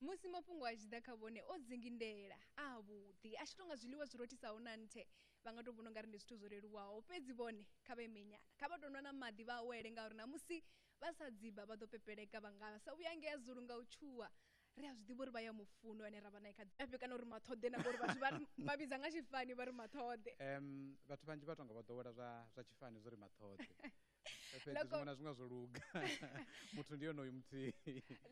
Musi mafhungo a tshi ḓa kha vhone o dzingindela, a avhuḓi, a tshi tou nga zwiḽiwa zwi rothisaho na nthe. Vha nga tou vhona u nga ri ndi zwithu zwo leluwaho. Fhedzi vhone kha vha ime nyana. Kha vha tou nwa na maḓi vha awele ngauri ṋamusi vha sa dziba vha ḓo pepeleka vha nga sa vhuya ngea Zulu nga u tshuwa. Ri a zwi ḓivha uri vha ya mu funa ane ra vha nae kha ḓifhe kana uri Maṱhoḓe na ngori vhathu vha vha vhidza nga tshifani vha ri Maṱhoḓe. Em, vhathu vhanzhi vha tou nga vho ḓowela zwa zwa tshifani zwo ri Maṱhoḓe. fhedzi Loko- zwiṅwe na zwiṅwe zwo luga muthu ndi yonoyu muthihi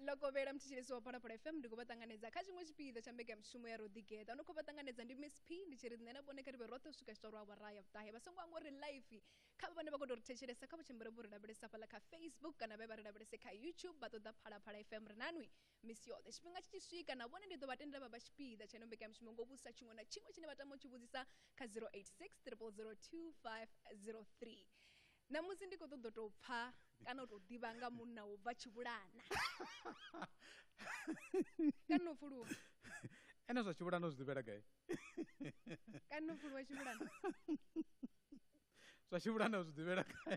lokovhela mthetshelesi wa phalaphala fm ndi khou vha ṱanganedza kha tshiṅwe tshipiḓa tsha mbekanyamushumo ya roḓigeḓa no khou vha ṱanganedza ndi miss p ndi tshi ri nṋe na vhone kha ri vhe roṱhe u swika tshiṱoro awara ya vhuṱahe vha songo anga uri life kha vha vhane vha khou tou ri thetshelesa kha vha tshimbile vho ri lavhelesa fhaḽa kha facebook kana vhe vha ri lavhelese kha youtube vha ṱoḓa phalaphala fm ri nanwi misi yoṱhe tshifhinga tshi tshi swika na vhone ndi ḓo vha tendela vha vha tshipiḓa tsha ino mbekanyamushumo ngo vhudzisa tshiṅwe na tshiṅwe tshine vha tama u tshi vhudzisa kha 086 002503 ṋamusi ndi khou ṱoḓa u tou pfha kana u tou ḓivha nga munna wo bva tshivhulana kana u pfuluwa ene zwa tshivhulana u zwi ḓivhela gai kana u pfuluwa tshivhulana zwa tshi vhulanda zwi ḓivhela khae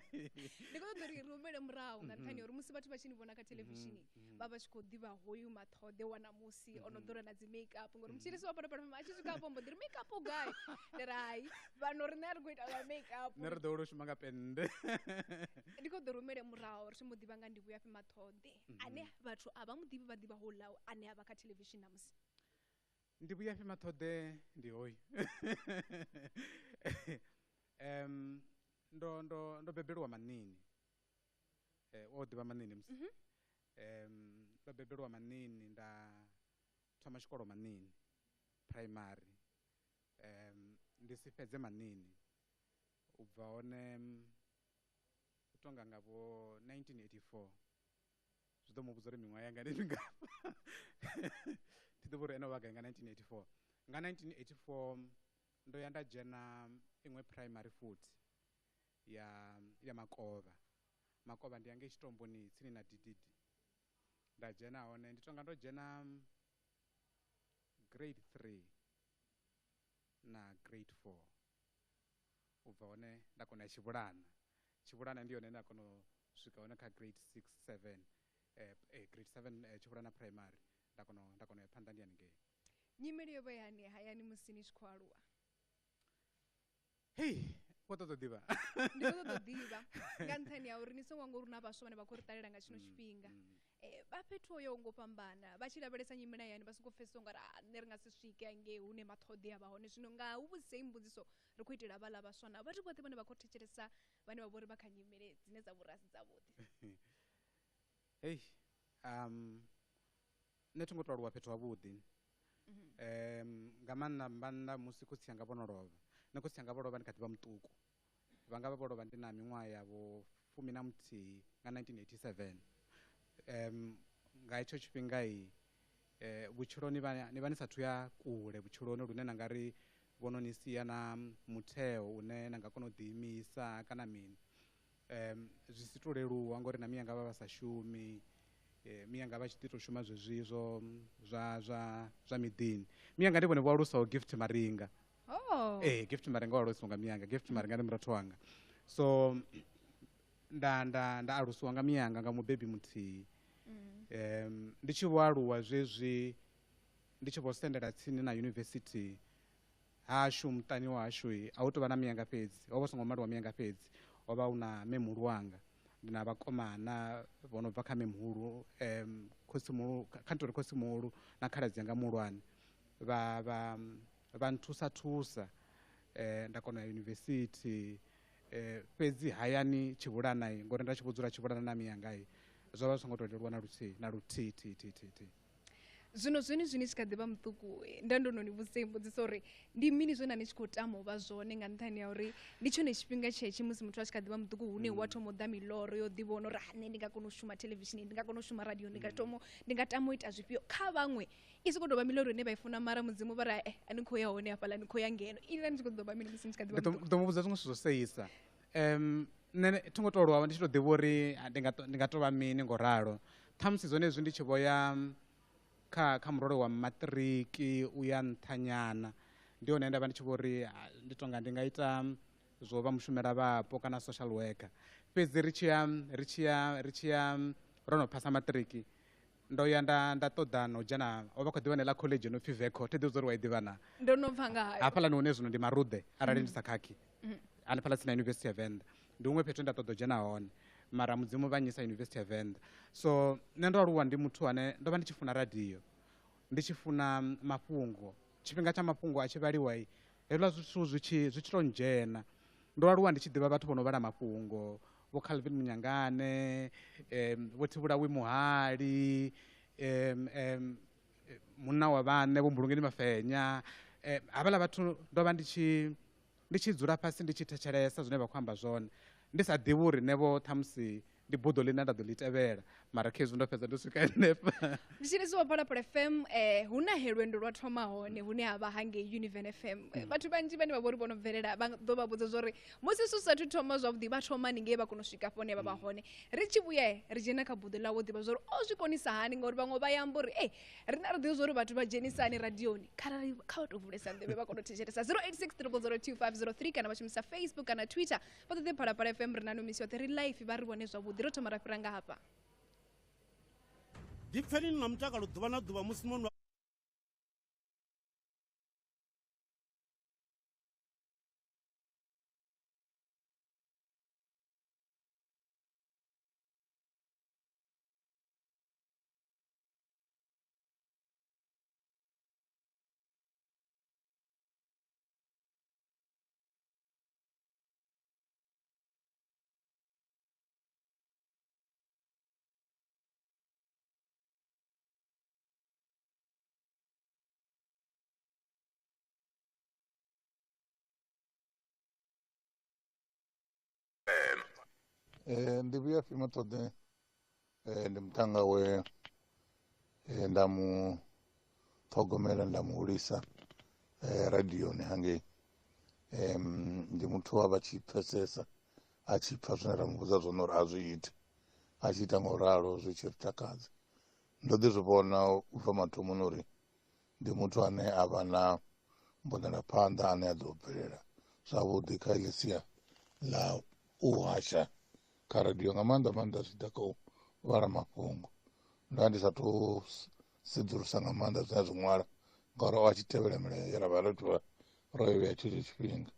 ndi khou ṱoḓa uri ri humele murahu nga nṱhani ya uri musi vhathu vha tshi ni vhona kha thelevishini vha vha tshi khou ḓivha hoyu maṱhoḓe wa namusi o no ḓura na dzi make up ngori mutshilisi wa phalaphalama a tshi swika afho mbo ḓi ri make up u gai ndi ri hai vhano riṋe a ri khou ita zwa make up nṋe ri ḓo wela u shuma nga pennde ndi khou ḓo rumele murahu ri tshi mu ḓivha nga ndi vhuya fhi maṱhoḓe ane vhathu a vha mu ḓivhi vha ḓivha houḽa ane a vha kha thelevishini namusi ndi vhuyafhi maṱhoḓe ndi hoyu um ndo ndo ndo bebelwa manini eh, o ḓivha manini musi Mhm. um ndo bebelwa manini nda thoma tshikolo manini primary um ndi si fhedze manini u bva hone mm, u tonga nga vho 1984 zwi ḓo mu vhudza uri miṅwaha yanga ndi mingafha ndi ḓo vha uri ene o vha gai nga 1984 nga 1984 ndo ya nda dzhena iṅwe primary futhi ya ya makovha makovha ndi yange tshitomboni tsini na ddd nda dzhena hone ndi tonga ndo dzhena grade 3 na grade 4 u bva hone nda kona ya tshivhulana tshivhulana ndi yone nda kona u swika hone kha grade 6 7 eh, eh, grade 7 eh, tshivhulana primary nda kona nda kona ya phanḓa ndi haningei nyimele yo vha yani hayani musi ni tshi khou aluwa hei wo ṱoḓa ḓivha ndi khou ṱoḓa ḓivha nga nṱhani ya uri ni songo ngo ri na vhaswa vhane vha khou ri ṱalela nga tshino mm, tshifhinga mm. Eh, vha fhethu hoyo ngo fhambana vha tshi lavhelesa nyimela yani vha songo pfesesa ungari a ah, nṋe ri nga si swike angei hune maṱhoḓea vha hone zwino nga hu vhudzise i mbudziso ri khou itela vhaḽa vhaswa na vhathu vhoṱhe vhane vha khou thetshelesa vhane vha vhori vha kha nyimele dzine dza vhori a si dzavhuḓi hei um nṋe thi ngo to aluwa fhethu havhuḓi mhm. um nga maanḓa mbannḓa musi khotsi anga vho no lovha nṋe khotsi anga vho lovha ndi kha ḓi vha muṱuku Vha nga vha vho lovha ndi na miṅwaha ya vho fumi na muthihi nga 1987. Um, nga hetsho tshifhingai eh, vhutshiloni vha, ni vha ni sathu ya kule vhutshiloni lune na nga ri vho no ni sia na mutheo une na nga kona u ḓiimisa kana mini um, zwi si to leluwa ngori na miyanga vha vha sa shumi eh, miyanga vha tshi ḓi to shuma zwezwi zwo zwa zwa zwa miḓini miyanga ndi vhone vho alusaho gift maringa oh ee eh, gift marenga wa lwesiwa nga miyanga gift marenga ndi murathu wanga so nda nda nda alusiwa nga miyanga nga mubebi muthihi mm. um ndi tshi vho aluwa zwezwi ndi tshi vho sendela tsini na yunivesithi hashu muṱani wa hashu a hu tou vha na miyanga fhedzi ho vha songo maliwa miyanga fhedzi ho vha hu na memuhulu wanga ndi na vhakomana vho no bva kha memuhulu um khotsimuhulu kha ntori khotsimuhulu na khaladzi yanga muhulwane vha vha vha nthusa thusa eh, nda kona ya yunivesithi eh, fhedzi hayani tshivhulanai ngori nda tshi vho dzula tshivhulana na miyangai zwo vha zwi songo tou leluwa na luthihi na luthihi thihi thihi thihi thihi zwino zwini zwini tshi kha ḓi vha muṱuku eh, nda ndo no ni vhudzisa i mbudziso uri ndi mini zwe na ni tshi khou tama u vha zwone nga nṱhani ya uri ndi tshone tshifhinga tshetshi musi muthu a tshi kha ḓi vha muṱuku hune hu a thoma u ḓa miloro yo ḓivhona uri ha nṋe ndi nga kona u shuma theḽevishini ndi nga kona u shuma radio ndi nga thoma ndi nga tama u ita zwifhio kha vhaṅwe i soko tovha miloro ine vha i funa mara mudzimu vha ri e a ni khou ya hone hafhaḽa ni khou ya ngeno inila ni tshi khou ḓovha mini musi ni tshi kha ḓivha ḓo mu vhudza zwiṅwe zwithu zwo seisa um nṋe thi ngo tou lwa ndi tshi tou ḓivha uri ndi nga ndi nga tovha mini ngo ralo ṱhamusi zwone hezwi ndi tshi vho ya kha kha murole wa maṱiriki u ya nṱhanyana ndi hone nda vha ndi tshi vho uri ndi tonga ndi nga ita zwo vha mushumela vhapo kana social worker fhedzi ri tshi ya ri tshi ya ri tshi ya ro no phasa maṱiriki ndo ya nda nda ṱoḓa no dzhena o vha khou ḓivha neḽa college no pfhi veco thi ḓivha uri wa i ḓivha na ndo no pfa nga hayo hafhaḽani hune zwino ndi maruḓe arali ndi sa khakhi hanefhaḽa tsini na yunivesithi ya venḓa ndi huṅwe fhethu nda ṱoḓa u dzhena hone mara mudzimu vha nyisa yunivesithi ya venḓa so nṋe ndo aluwa ndi muthu ane ndo vha ndi tshi funa radio ndi tshi funa mafhungo tshifhinga tsha mafhungo a tshi vhaliwa hezwiḽa zwithu zwi tshi zwi tshi to ndzhena ndo aluwa ndi tshi ḓivha vhathu vho no vhala mafhungo vho Calvin Munyangane um, vho Thivhulawi Muhali um, um, munna wa vhane vho Mbulungeni Mafenya um, havhala vhathu ndo vha ndi tshi ndi tshi dzula fhasi ndi tshi thetshelesa zwine vha khou amba zwone ndi sa ḓivhi uri ne vho ṱhamusi ndi buḓo ḽine nda ḓo ḽi tevhela mara khezwi ndo fhedza ndo swika henefha ndi tshi lisiwa phalaphala fm um hu na he lwendo lwa thoma hone hune ha vha hangei univen fm um eh, vhathu vhanzhi vhane vha vho ri vho no bvelela vha ḓo vha vhudza zwori musi su sathu thoma zwavhuḓi vha thoma ni ngei vha kona u swika hafho hune vha vha mm. hone ri tshi vhuya ri dzhena kha buḓo ḽawo ḓivha zwori o zwi konisa hani ngauri vhaṅwe vha yamba uri e rina ri ḓivha zwori vhathu vha dzhenisani radioni kharali kha vha tou vulesa nḓevhe vha kona u thetshelesa 086 kana vha shumisa facebook kana twitter vha ṱoḓe phalaphala fm ri na no misi yoṱhe ri life vha ri vhone zwavhuḓi ro thoma ra fhira nga hafha ḓipfeni ni na mutakalo ḓuvha na ḓuvha musi no nwa Ee, ndi vhuya fhi mathoḓea Eh, ndi muṱhannga we eh, nda mu ṱhogomela nda mu hulisa eh, radioni hangei Em, ndi muthu a vha tshi pfesesa a tshi pfha zwine ra mu vhudza zwone uri a zwi ite a tshi ita nga u ralo zwi tshi ri takadza ndo ḓi zwi vhona u bva mathomoni uri ndi muthu ane a vha na mbonelaphanḓa ane a ḓo bvelela zwavhuḓi kha heḽi sia ḽa u hasha kha radio nga maanḓa maanḓa zwi ḓa kha u vhala mafhungo nda ndi sa to sedzulusa nga maanḓa zwine a zwi ṅwala ngauri o a tshi tevhela milayo ye ra vha ro tivha ro i vhea tshetsho tshifhinga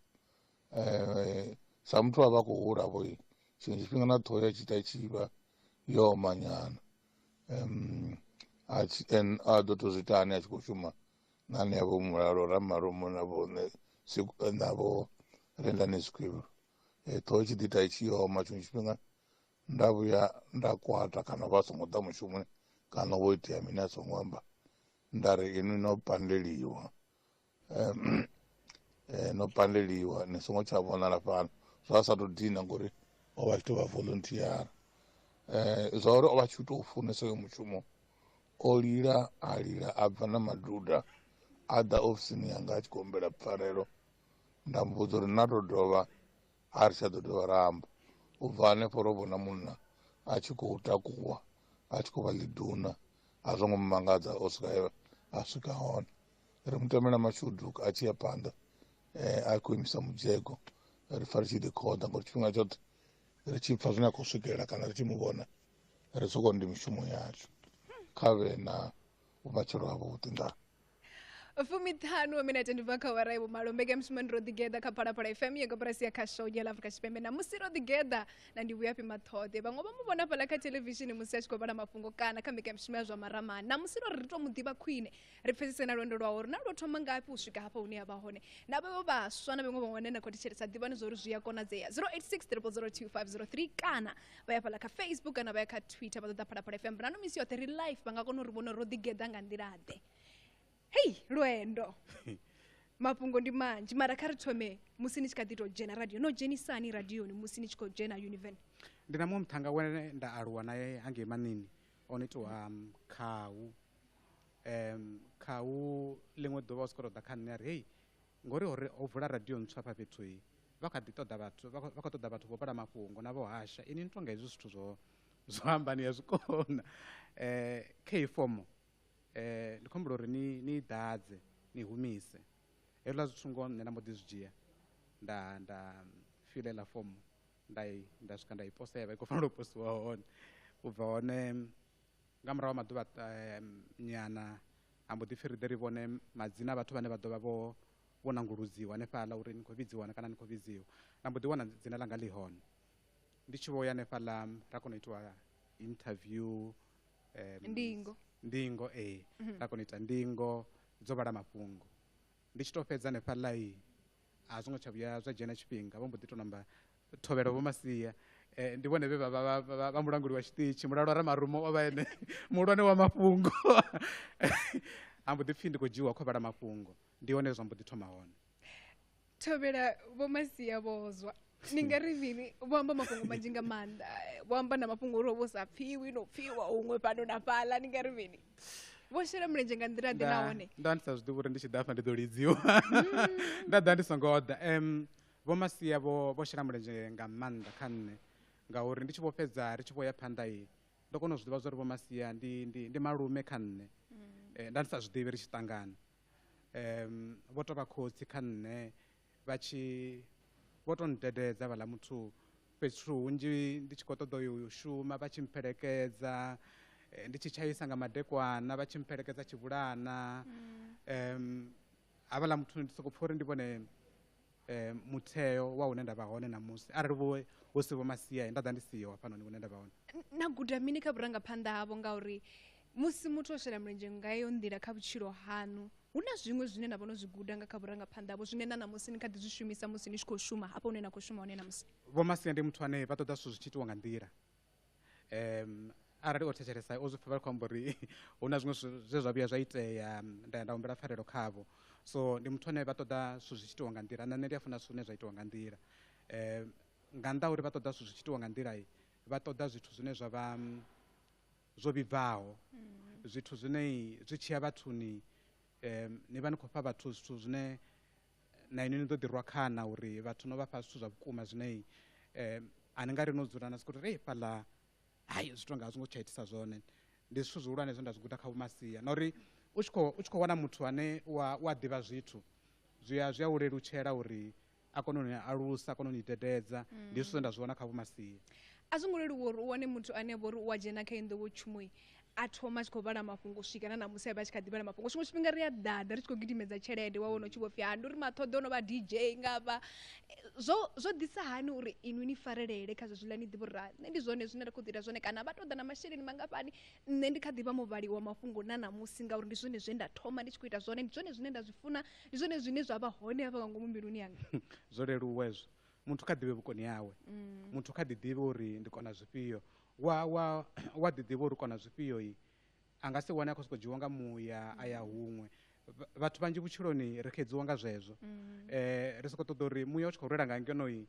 um sa muthu a vha khou hula vho tshiṅwe tshifhinga na ṱhoho ya tshi ita tshi vha yo omanyana um a tshi en a ḓo to zwi ita ane a tshi khou shuma na anea vho mulalo ramarumo na vho navho rendani zwikwivhilo eh, ṱhoho tshi ḓi ita i tshi oma tshiṅwe tshifhinga nda vhuya nda kwata kana vha songo ḓa mushumoni kana vho itea mini a songo amba nda ri inwi no pandeliwa um, eh, no pandeliwa ni songo tsha vhonala fhano zwa sa tou dina ngori o vha tshi tou vha volunteer eh, zwa uri o vha tshi u tou funesa yo mushumo o lila a lila a bva na maduda a ḓa ofisini yanga a tshi khou humbela pfarelo nda mu vhudza uri na to dovha a ri tsha ḓo dovha ra amba u bva hanefho ro vhona munna a tshi khou takuwa a tshi khou vha ḽiduna a zwo ngo mu mangadza o swika a swika hone ri mu tamela mashudu a tshi ya phanḓa um a khou imisa mudzhego ri pfa ri tshi ḓi khoḓa ngori tshifhinga tshoṱhe ri tshi pfa zwine a khou swikelela kana ri tshi mu vhona ri soko ndi mishumo yashu kha vhe na vhumatshelo ha vhuḓi ndaa fumiṱhanu wa minete ndi bva kha wara ivo malo mbekanyamushumo ndi ro ḓigeḓa kha phalaphala fm ya koporasi ya kha show ya afrika tshipembe na musi ro ḓigeḓa na ndi vhuyafhi maṱhoḓe vhaṅwe vha mu vhona fhala kha televishini musi a tshi khou vhala mafhungo kana kha mbekanyamushumo ya zwa maramani na musi ro ri ri tou mu ḓivha khwine ri pfesese na lwendo lwawo uri na lwo thoma ngafhi u swika hafha hune ya vha hone na vhevho vhaswa na vhaṅwe vhaṅwe vhane na khou thetshelesa ḓivhani zwa uri zwi a konadzea 086 002 503 kana vha ya fhala kha facebook kana vha ya kha twitter vha ṱoḓa phalaphala fm rano misi yoṱhe ri life vha nga kona uri vhona uri ro ḓigeḓa nga nḓila-ḓe hei lwendo mafhungo ndi manzhi mara kha ri thome musi ni tshi kha ḓi tou dzhena radio no dzhenisani radioni musi ni tshi khou dzhena univen ndi na muṅwe muthanga wene nda aluwa naye hangei manini o no itiwa um, khahu um, khahu ḽiṅwe ḓuvha u soko to ḓa kha nṋe a ri hei Ngori ho ri ho vula radio ntswa afha fhethu i vha kha ḓi ṱoḓa vhathu vha khou ṱoḓa vhathu vho vhala mafhungo na vho hasha ini ni tonga hezwi zwithu zwo zwo amba ni ya zwi kona kha heyi fomo ndi khou humbula uri ni ni i ḓadze ni humise hezwiḽa zwithu ngoho nṋe nda mbo ḓi zwi dzhia nda nda fila iḽa fomo nda i nda swika nda i posa ya vha i khou fanela u posiwa hone u bva hone nga murahu ha maḓuvha eh, nyana a mbo ḓi pfhi ri ḓe ri vhone madzina a vhathu vhane vha ḓo vha vho vho nanguludziwa hanefhaḽa uri ni khou vhidziwa kana ni khou vhidziwa na mbo ḓi wana dzina ḽanga ḽi hone ndi tshi vho ya hanefhaḽa ra kona u itiwa interview um, ndingo ndingo ee mm -hmm. ra kona u ita ndingo dzo vhala mafhungo Ndi tshi tou fhedza hanefha ḽai, a zwo ngo tsha vhuya zwa dzhena tshifhinga vho mbo ḓi tou namba thovhela Vho Masia. Ndi vhone vhe vha vha vha mulanguli wa tshiṱitshi, mulalo wa Ramarumo o vha e ene muhulwane wa mafhungo. Ha mbo ḓi pfhi ndi khou dzhiiwa khovha ḽa mafhungo, ndi hone he zwa mbo ḓi thoma hone. Thovhela Vho Masia vho zwa. ni nga ri mini vho amba mafhungo manzhi nga maanḓa vho amba na mafhungo uri vho sa pfiwi no pfiwa huṅwe fhano na fhaḽa ni nga ri mini vho shela mulenzhe nga nḓila ḓe nahone nda ndi sa zwi ḓivhi uri ndi tshi ḓa afha ndi ḓo lidziwa mm. nda ḓa ndi songo ḓa um vho masia vho vho shela mulenzhe nga maanḓa kha nṋe ngauri ndi tshi vho fhedza ri tshi vho ya phanḓa i ndo kona u zwi ḓivha zwa uri vho masia ndi ndi ndi malume kha nṋe mm. eh, nda ndi sa zwi ḓivhi ri tshi ṱangana um vho tovha khotsi kha nṋe vha tshi vho tou ndededza vhaḽa muthu fhethu hunzhi ndi tshi khou ṱoḓa u yo u shuma vha tshi mphelekedza eh, ndi tshi tshaisa nga madekwana vha tshi mphelekedza tshivhulana um havhaḽa muthu ndi sokou pfha uri ndi vhone eh, mutheo wa hune nda vha hone ṋamusi arali vho hu si vho masia nda ḓa ndi siho hafhanoni hune nda vha hone N- na guda mini kha vhurangaphanḓa havho ngauri Musi muthu o shela mulenzhe nga heyo nḓila kha vhutshilo haṋu, hu na zwiṅwe zwine na vha no zwi guda nga kha vhurangaphanḓa havho zwine na ṋamusi ni kha ḓi zwi shumisa musi ni tshi khou shuma hafho hune na khou shuma hone ṋamusi? Vho Masia ndi muthu ane vha ṱoḓa zwithu zwi tshi itiwa nga nḓila. Um arali o thetshelesa o zwi pfha vha khou amba uri hu na zwiṅwe zwe zwa vhuya zwa itea nda ya nda humbela pfarelo khavho. So ndi muthu ane vha ṱoḓa zwithu zwi tshi itiwa nga nḓila na nṋe ndi a funa zwithu zwine zwa itiwa nga nḓila. Um nga nnḓa ha uri vha ṱoḓa zwithu zwi tshi itiwa nga nḓila vha ṱoḓa zwithu zwine zwa vha Zwo vhibvaho, zwithu zwine zwi tshi ya vhathuni, um ni vha ni khou fha vhathu zwithu zwine na inwi ni ḓo ḓi rwa khana uri vhathu no vha fha zwithu zwa vhukuma zwine um a ni nga ri no dzula na sokou ri fhaḽa hai zwi tou nga a zwi ngo tsha itisa zwone. Ndi zwithu zwihulwane zwe nda zwi guda kha Vho-Masia na uri u tshi khou, u tshi khou wana muthu ane u a, u a ḓivha zwithu zwi a, zwi a u lelutshela uri a kone u ni alusa a kone u ni tetedza mm. ndi zwithu zwe nda zwi vhona kha vhumasia a zwi ngo leluwa uri u wane muthu ane a vha uri u a dzhena kha inḓowo tshumoi a thoma a tshi khou vhala mafhungo swika na namusi a vha a tshi kha ḓi vhala mafhungo tshiṅwe tshifhinga ri a ḓaḓa ri tshi khou gidimedza tshelede wa wana u tshi vho pfi ha ndi uri maṱhoḓo no vha dj nga vha zwo zwo ḓisa hani uri inwi ni farelele kha zwezwiḽa ni ḓivha uri ra nṋe ndi zwone zwine ra khou ḓita zwone kana vha ṱoḓa na masheleni mangafhani nṋe ndi kha ḓi vha muvhali wa mafhungo na namusi ngauri ndi zwone zwe nda thoma ndi tshi khou ita zwone ndi zwone zwine nda zwi funa ndi zwone zwine zwa vha hone hafha nga ngomu mbiluni yanga zwo leluwa ezwo muthu kha ḓivhe vhukoni hawe mm. muthu kha ḓi ḓivhe uri ndi kona zwifhio wa wa wa ḓi ḓivha uri kona zwifhio i a nga si wane a khou sokou dzhiwa nga muya a ya mm. huṅwe vhathu vhanzhi vhutshiloni ri khedziwa nga zwezwo mm. eh ri sokou ṱoḓa uri muya u tshi khou rwela nga ngeno i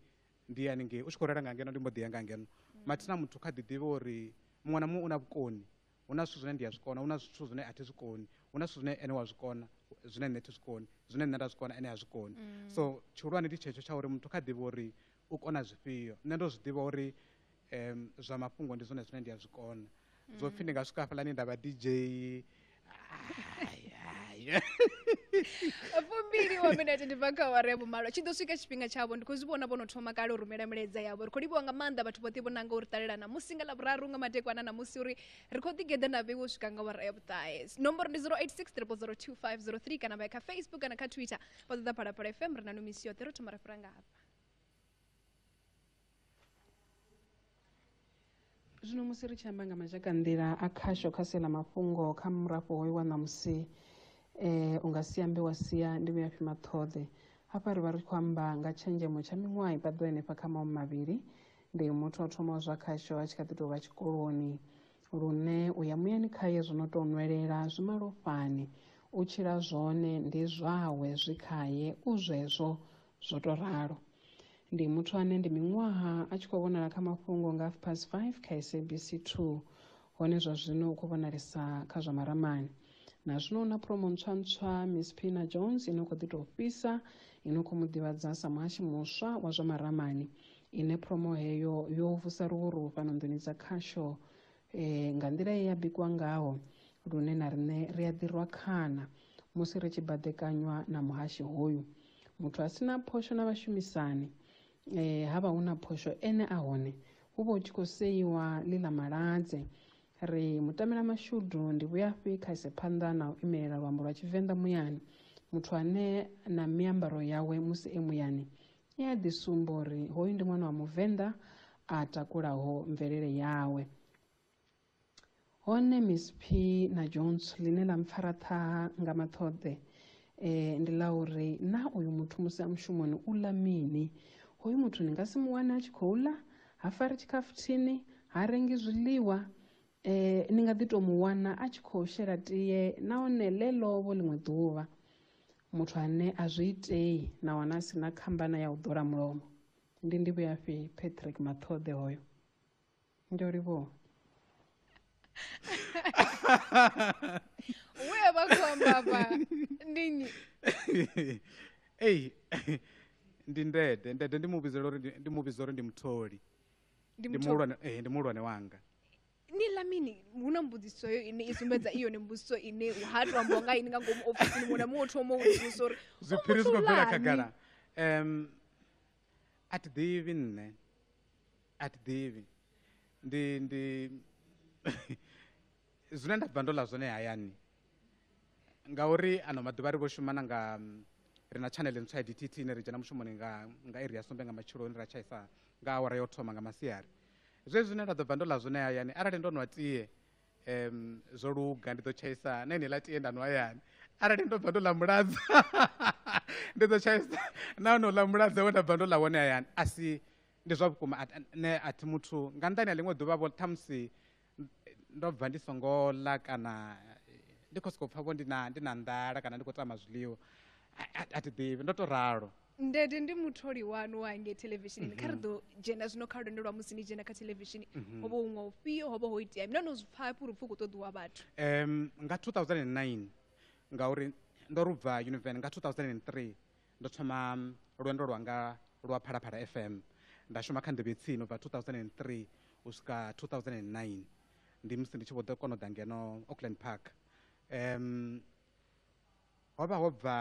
ndi ya haningei u tshi khou rwela nga ngeno ndi mbo ḓi ya nga ngeno mathina muthu kha ḓi ḓivhe uri muṅwe na muṅwe u na vhukoni hu na zwithu zwine ndi a zwi kona hu na zwithu zwine a thi zwi koni hu na zwithu zwine ene wa zwi kona zwine nṋe thi zwi koni zwine nṋe nda zwi kona ene ha zwi koni mm. so tshihulwane ndi tshetsho tsha uri muthu kha ḓivhe uri u kona zwifhio nṋe ndo zwi ḓivha uri um zwa mafhungo ndi zwone zwine ndi a zwi kona zwo pfhi ndi nga swika hafhaḽani nda vha dj Ai, ai. fumbili wa minete ndi bva kha awara ya vhumalo tshi ḓo swika tshifhinga tshavho ndi khou zwi vhona vho no thoma kale u rumela milaedza yavho ri khou livhiwa nga maanḓa vhathu vhoṱhe vho nanga uri ṱalela namusi nga lavhuraru nga madekwana namusi uri ri khou ḓigeḓa na vheiwo swika nga awara ya vhuṱahe nomboro ndi 08600253 kana vha ya kha facebook kana kha twitter vha ṱoḓa phalaphala fm ri na no misi yoṱhe ro thoma ra fhira nga hafha zwino musi ri tshi amba nga mazhakanḓila a khasho kha sia ḽa mafhungo kha murafho hoyo wa ṋamusi um u nga si ambe wa sia ndi vhuyafhi maṱhoḓe hafha ri vha ri khou amba nga tshenzhemo tsha miṅwaha i paḓo henefha kha maumi mavhili ndi muthu o thomaho zwa khasho a tshi kha ḓi tou vha tshikoloni lune u ya muyani khaye zwo no tou nwelela zwi malofhani u tshila zwone ndi zwawe zwi khaye u zwezwo Zwo tou ralo. Ndi muthu ane ndi miṅwaha a tshi khou vhonala kha mafhungo nga half past 5 kha SABC 2 hone zwa zwino u khou vhonalesa kha zwa maramani. Na zwino u na promo ntswa ntswa Miss Pina Jones ino khou ḓi tou fhisa ino khou mu ḓivhadza sa muhashi muswa wa zwa maramani ine promo heyo yo vusa luvhuru fhano nḓuni dza khasho e, nga nḓila ye ya bikwa ngaho lune na riṋe ri a ḓirwa khana musi ri tshi baḓekanywa na muhashi hoyu muthu a si na phosho na vhashumisani e, ha vha hu na phosho ene a hone hu vha hu tshi khou seiwa ḽi ḽa maladze ri mutamela mashudu ndi vhuyafhi kha ise phanḓa na u imelela luambo lwa tshivenḓa muyani muthu ane na miambaro yawe musi e muyani i a ḓi sumba uri hoyu ndi ṅwana wa muvenḓa a takulaho mvelele yawe hone miss p na jones ḽine ḽa mpfara ṱhaha nga maṱhoḓe e, ndi ḽa uri na uyu muthu musi a mushumoni u ḽa mini hoyu muthu ni nga si mu wane a tshi khou ḽa ha fari tshikhafuthini ha rengi zwiḽiwa e, ni nga ḓi tou mu wana a tshi khou shela tie nahone ḽe ḽovo ḽiṅwe ḓuvha muthu ane a zwi itei nahone a si na khambana ya u ḓola mulomo ndi ndivhuyafhi patrick maṱhoḓe hoyo ndi o livhuwa we a vha khou amba afha ndi nnyi ei ndi ndede ndede ndi mu vhidzela uri ndi- ndi mu vhidza uri ndi mutholi Ndi ndi mutholi. muhulwane eh, ndi muhulwane wanga ni ḽa mini hu na mbudziso yo ine i sumbedza i yone mbudziso ine ha to ambiwa nga ini nga ngomu ofisini muṅwe na muṅwe o thoma u vhudzisa uri zwiphiri zwi khou bvela khagala um a thi ḓivhi nṋe a thi ḓivhi ndi ndi zwine nda bva ndo ḽa zwone hayani ngauri ano maḓuvha ri vho shuma na nga ri na tshanele ntswa ya dtt ine ri dzhena mushumoni nga nga iri ya sumbe nga matsheloni ra tshaisa nga awara yo thoma nga masiari Zwezwi zwine nda ḓo bva ndo ḽa zwone hayani, arali ndo nwa tie, um, zwo luga, ndi ḓo tshaisa na heneiḽa tie nda nwa hayani. Arali ndo bva ndo ḽa muladza, ndi ḓo tshaisa na honouḽa muladza we nda bva ndo ḽa wone hayani. A si, ndi zwa vhukuma, nṋe a thi muthu, nga nnḓani ha ḽiṅwe ḓuvha vho ṱhamusi ndo bva ndi songo ḽa kana ndi khou sokou pfha vho ndi na ndi na nḓala kana ndi khou tama zwiḽiwa a thi ḓivhi ndo to ralo ndede ndi mutholi wanu wa ngei televishinini kha ri mhm. ḓo dzhena zwino kha lwendo lwa musi ni dzhena kha televishini mhm. ho vha huṅwe ufhio ho vha ho itea mina no zwi pfha hafhi uri pfhi u khou ṱoḓiwa vhathu um nga 2009 ngauri ndo rubva univen nga 2003 Ndo thoma lwendo lwanga lwa Phalaphala FM nda shuma kha nḓevhe tsini ubva 2003 u swika 2009 ndi musi ndi tshi vho ḓo kona u ḓa ngeno Auckland Park um ho vha ho bva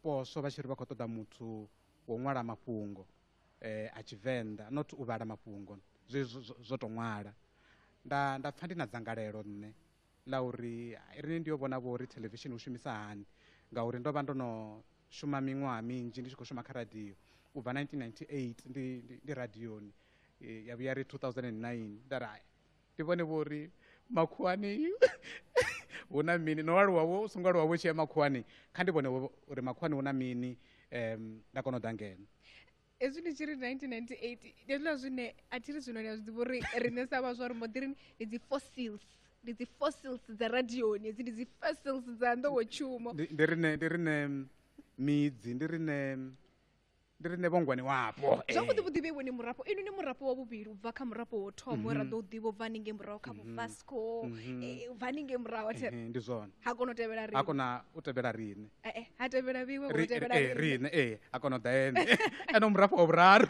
poswo vha tshi ri vha khou ṱoḓa muthu wo ṅwala mafhungo um a tshivenḓa not u vhala mafhungo zwe zwo tou ṅwala nda nda pfha ndi na dzangalelo nṋe ḽa uri riṋe ndi yo vhona vho uri theḽevishini u shumisa hani ngauri ndo vha ndo no shuma miṅwaha minzhi ndi tshi khou shuma kha radio u bva 1998 ndi ndi radioni ya vhuya ri 2009 nda ri ndi vhone vho uri makhuwani hu na mini no aluwa wo u songo aluwa vho tshi ya makhuwani kha ndi vhone uri makhuwani hu na mini um nda kona u ḓa ngeno hezwi ndi tshi ri 1998 ndi hezwiḽa zwine a thi ri zwino ni a zwi ḓivha uri riṋe sa vhaswa ri mbo ḓi ri ndi dzi fossils ndi dzi fossils dza radioni hedzi ndi dzi fossils dza nḓowetshumo Ndi- ndi rine ndi rine mm, midzi ndi rine mm, ndi rine vhongwani wapo Eh. zwavhuḓi vhuḓi vheiwe ni murafho inu ni murafho wa vhuvhili u bva kha murafho wo thoma we ra ḓo u ḓivha u bva haningei muraho kha vhuvasco eh, u bva haningei muraho a thi- Ehe, ndi zwone ha kona u tevhela a ri kona u tevhela rine eh, eh, ha tevhela vhiwe ri tevhela eh, rine eh a kona u ḓa ene ene u murafho wa vhuraru